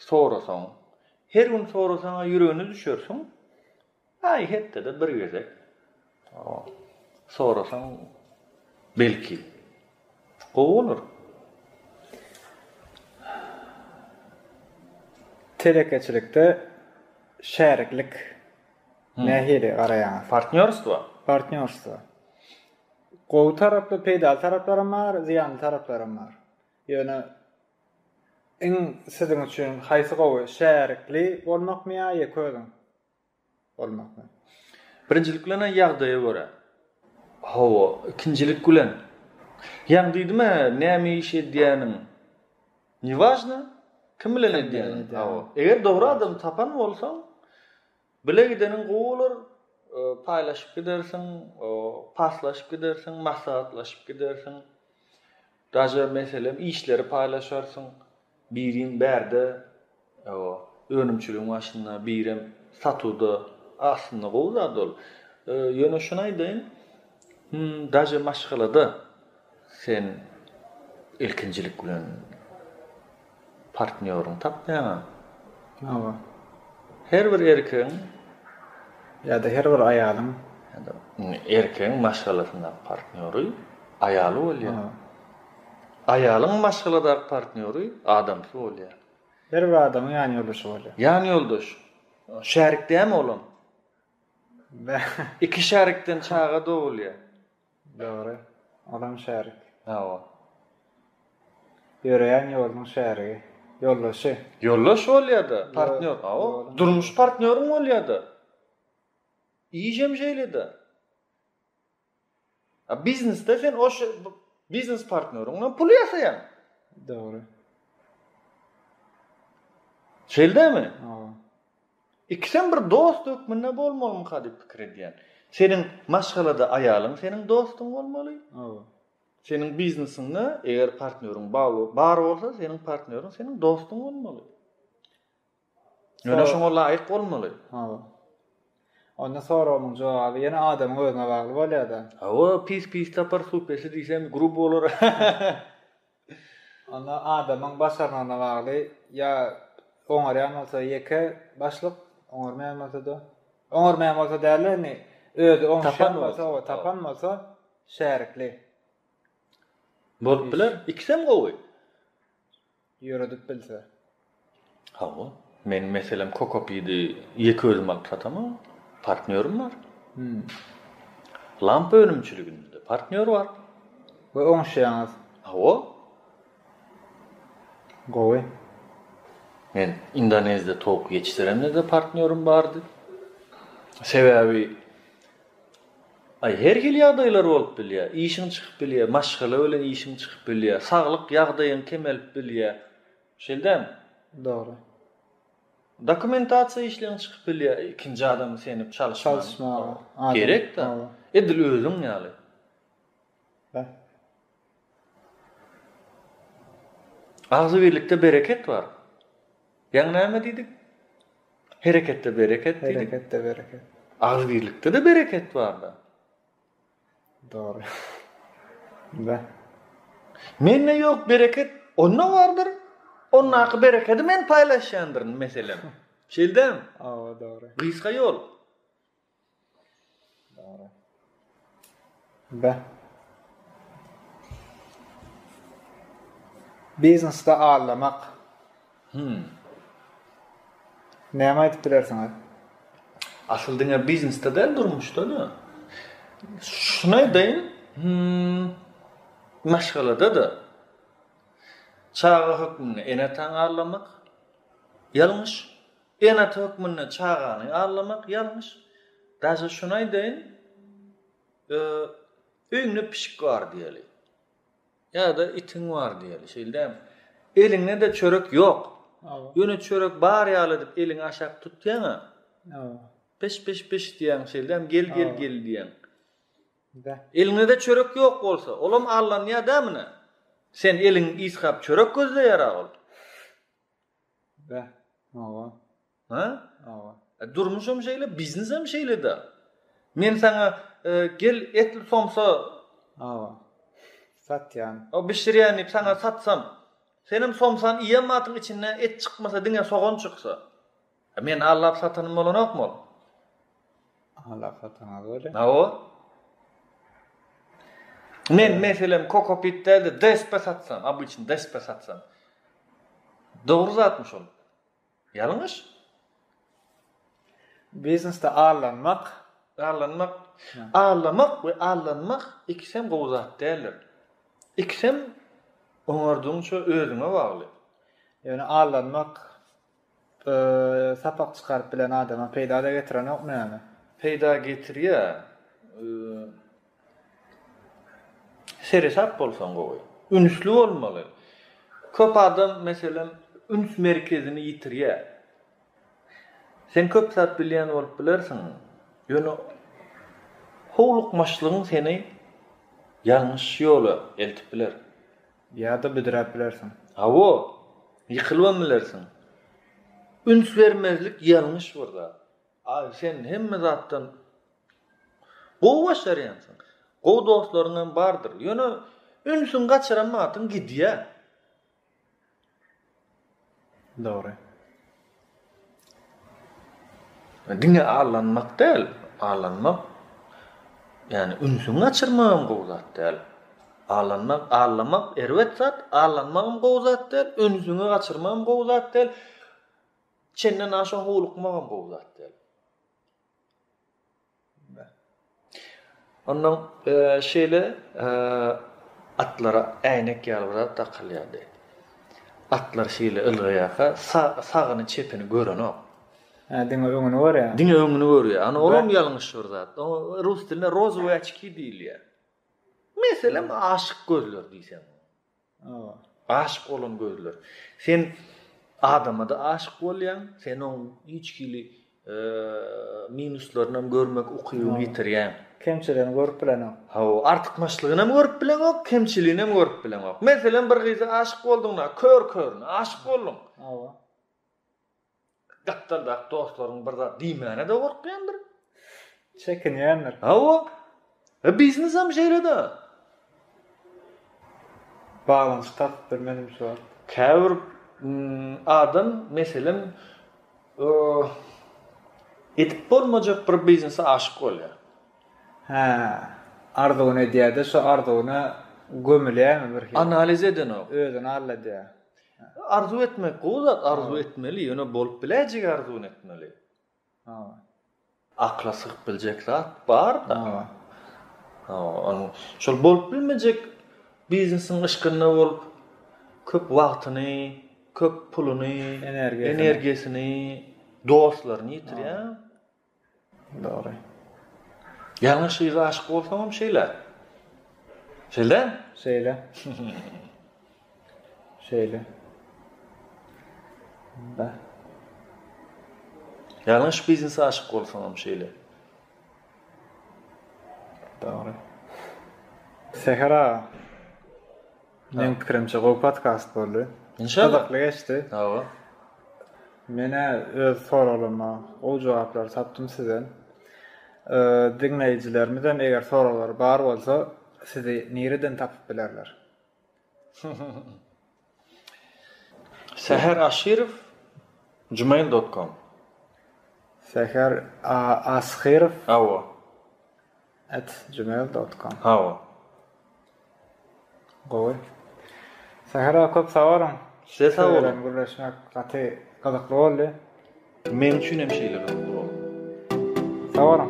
[SPEAKER 2] sorasaň, her gün sorasaň-a ýüregine düşersiň, Aý hepdede bir gezek sorasaň belki gowy bolar.
[SPEAKER 1] Telekeçilikde şäriklik nähili garaýaňyz? Partnýorstwo.
[SPEAKER 2] Partnýorstwo.
[SPEAKER 1] Gowy tarapy, peýdaly taraplaram bar, zyýanly taraplaram bar. Ýöne iň siziň üçin haýsy gowy, şärikli bolmakmy ýa ýeke özüň? bolmakmy?
[SPEAKER 2] Birinjilik bilen-ä ýagdaýa görä. Hawa, ikinjilik bilen. Ýaňy diýdim-ä, näme iş edýäniň niwažna, kim bilen edýäniň. Hawa. Eger dogry adamy tapan bolsaň, bile gideniň gowy bolar, paýlaşyp gidersiň, paslaşyp gidersiň, maslahatlaşyp gidersiň. Daže, meselem, işleri paýlaşarsyň. Biriň bärde önümçiligiň başynda, birem satuwda. Aslynda gowy zat ol. Ýöne şuny aýdaýyn, daže maşgalada sen ilkinjilik bilen partnýoryňy tapmaýaňa. Hawa. Her bir erkegiň
[SPEAKER 1] ýa-da her bir aýalyň,
[SPEAKER 2] erkegiň maşgalasyndaky partnýory aýaly bolýar. Aýalyň maşgaladaky partnýory adamsy bolýar. Her bir adamyň
[SPEAKER 1] ýanýoldaşy bolýar. Ýanýoldaş.
[SPEAKER 2] Şärik dämi olam? Iki şärikden çaga dogulýar. Dogry.
[SPEAKER 1] Olam şärik. Hawa. Ýöreýän ýolunyň şärigi. Ýoldaşy. Ýoldaş
[SPEAKER 2] bolýar-da, partnýor. Hawa. Durmuş partnýoryň bolýar-da. Iş hem şeýle-de. A biznesde sen o biznes partneriňden pul ýasaýaň. Dogry. Şeýdemi? Hawa.
[SPEAKER 1] Ikisem
[SPEAKER 2] bir dost hökmünde bolmalymy hadi pikir edýän. Seniň maşgalada aýalyň seniň dostuň bolmaly. Hawa.
[SPEAKER 1] Seniň
[SPEAKER 2] biznesiňde eger partneriň bar bolsa, seniň partneriň seniň dostuň bolmaly. Ýöne şoňa laýyk bolmaly. Hawa.
[SPEAKER 1] Onda soragyň jogaby ýene adamyň özüne bagly bolýar-da. Hawa, pis pis
[SPEAKER 2] tapar, suw pesi diýsem grub bolar.
[SPEAKER 1] Onda adamyň başarnygyna bagly, ýa oňarýan bolsa ýeke başlyk, oňarmaýan bolsa-da, oňarmaýan bolsa däl-de indi özi oňuşýan bolsa, tapan bolsa şärikli.
[SPEAKER 2] Bolup biler, ikisem gowy.
[SPEAKER 1] ýöredip bilse. Hawa.
[SPEAKER 2] Meniň meselem kokopidi ýeke özüm alyp satamok. Partnýorym bar. Lampa önümçiliginde partnýor bar. We
[SPEAKER 1] oňuşýaňyz. Hawa. Gowy.
[SPEAKER 2] Men Indonezde towuk ýetişdiremde-de partnýorym bardy. Sebäbi. Aý, her hili ýagdaýlar bolup bilýär. Işiň çykyp bilýär, maşgala bilen işiň çykyp bilýär, saglyk ýagdaýyň kemelip bilýär. Şeýle dälmi? Dogry.
[SPEAKER 1] Dokumentasiýa
[SPEAKER 2] işleň çykyp bilýär, ikinji adamy senip çalyşmaga. Çalyşmaga.
[SPEAKER 1] Gerek-dä.
[SPEAKER 2] Edil özüň ýaly. Beh. Agzybirlikde bereket bar. Ýaňy näme diýdik? Hereketde bereket diýdik. Hereketde bereket.
[SPEAKER 1] Agzybirlikde-de
[SPEAKER 2] bereket bar-da.
[SPEAKER 1] Dogry. Be.
[SPEAKER 2] Mende ýok bereket, onda bardyr. Ondaky berekedi men paýlaşýandyryn, meselem. Şeýdämi? Hawa, dogry.
[SPEAKER 1] Gysga ýol. Biznesde aldamak. Hümm. Näme aýdyp bilersiňiz?
[SPEAKER 2] Asyl diňe biznesde däl, durmuşda-da. Şuny aýdaýyn, hümm, maşgalada-da. Çaga hökmünde ene-atany aldamak ýalňyş. Ene hökmünde çagany allamak ýalňyş. Daže şuny aýdaýyn, öýüňde pişik bar diýeli. Ýa-da itiň bar diýeli, şeýle dämi? Eliňde-de çörek ýok. Ýöne çörek bar ýaly edip eliňi aşak tutýaň-a. Piş, piş, piş diýýäň, şeýle dämi? Gel, gel, gel diýýäň. Eliňde-de çörek ýok bolsa, olam allanýar dämine? Sen eliň ýyskap çörek gözleýär-a ol. Beh aga. Ha? Aga. E, durmuşam şeýle, biznesem şeýle-de. Men saňa e, gel etli somsa aga.
[SPEAKER 1] Satýan. O bişirýän diýip saňa
[SPEAKER 2] satsam. Senem somsan iýen matyň içinde et çykmasa diňe sogan çyksa. E, men allap satanym bolanokmy ol?
[SPEAKER 1] Alakataňa göre. Hawa.
[SPEAKER 2] Men meselem kokopit däldi, DSP satsam, obyçny DSP satsam. Dogry zatmy şol? Ýalňyş.
[SPEAKER 1] Biznesde allanmak, allanmak, allamak
[SPEAKER 2] we allanmak ikisem gowy zat däldir. Ikisem oňardygyňça özüňe bagly. Ýöne
[SPEAKER 1] allanmak Sapak çykaryp bilen adama peýda-da getirenokmy ýaly? Peýda getirýär.
[SPEAKER 2] Seresap bolsaň gowy. Ünsli bolmaly. Köp adam, meselem, üns merkezini ýitirýär. Sen köp zat bilýän bolup bilersiň, ýöne howlukmaçlygyň seni ýalňyş ýola eltip biler. Ýa-da
[SPEAKER 1] büdräp bilersiň. Hawa,
[SPEAKER 2] ýykylybam bilersiň. Üns bermezlik ýalňyş bir zat. Sen hemme zatdan gowy başarýansyň. Gowy dostlaryňam bardyr. Ýöne ünsüňi gaçyran wagtyň gidýär.
[SPEAKER 1] Dogry.
[SPEAKER 2] Diňe allanmak däl, allanmak ýani ünsüňi gaçyrmagam gowy zat däl. Allanmak, allamak erbet zat, allanmagam gowy zat däl, ünsüňi gaçyrmagam gowy zat däl. Çenden aşa howlukmagam gowy zat däl. Ondan şeýle atlara äýnek ýaly bir zat dakylýardy. Atlar şeýle ylgaýarka, sagyny, çepini görenok. Hä, diňe
[SPEAKER 1] öňüni görýär. Diňe öňüni görýär. Ana,
[SPEAKER 2] olam ýalňyş bir zat. Oňa rus dilinde rozowýaçki diýilýär. Meselem, aşyk gözler diýseň. Aşyk bolan gözler. Sen adama-da aşyk bolýaň, sen oň hiç hili minuslaryny hem görmek ukybyny ýitirýäň. Kemçiligini görüp
[SPEAKER 1] bileňok. Hawa, artykmaçlygyny
[SPEAKER 2] hem görüp bileňok, kemçiligini hem görüp bileňok. Meselem, bir gyza aşyk bolduň-da, kör-körüne aşyk bolduň. Hawa. Gapdaldaky dostlaryň bir zat diýmäne-de gorkýandyr.
[SPEAKER 1] Çekinýändir. Hawa.
[SPEAKER 2] E biznesem şeýle-de.
[SPEAKER 1] Baglanyşyk tapypdyr menimçe ol. Käbir
[SPEAKER 2] adam, meselem, edip bolmajak bir biznese aşyk bolýar. Hä,
[SPEAKER 1] arzuwyny edýär-de, şo arzuwyna gömülýärmi birhili? Analiz edenok. Özüni
[SPEAKER 2] alladýar.
[SPEAKER 1] Arzuw
[SPEAKER 2] etmek gowy zat, arzuw etmeli, ýöne bolup biläýjegi arzuwyny etmeli. Hawa. Akla sygyp biljek zat bar-da. Hawa. Hawa, şol bolup bilmejek biznesiň yşkynda bolup, köp wagtyny, köp puluny, energiýasyny, dostlaryny
[SPEAKER 1] ýitirýär.
[SPEAKER 2] Dogry. Ýalňyş gyza aşyk bolsaňam şeýle. Şeýle dälmi? Şeýle.
[SPEAKER 1] Şeýle. Da.
[SPEAKER 2] Ýalňyş biznese aşyk bolsaňam şeýle.
[SPEAKER 1] Dogry. Seher aga. Meň pikirimçe gowy podkast boldy. Gyzykly geçdi.
[SPEAKER 2] Hawa.
[SPEAKER 1] Menä öz soraglaryma gowy jogaplary tapdym sizden. Diňleýjilerimizem eger soraglary bar bolsa sizi nireden tapyp bilerler? Säher
[SPEAKER 2] Aşyrow gmail dot kom.
[SPEAKER 1] Säher Ashyrow. Hawa.
[SPEAKER 2] At gmail
[SPEAKER 1] dot com. Hawa. Gowy. Sähera köp sag boluň. Size sag boluň.
[SPEAKER 2] Gürleşmek gaty
[SPEAKER 1] gyzykly
[SPEAKER 2] boldy. Men üçin hem şeýle gyzykly boldy. Sag boluň.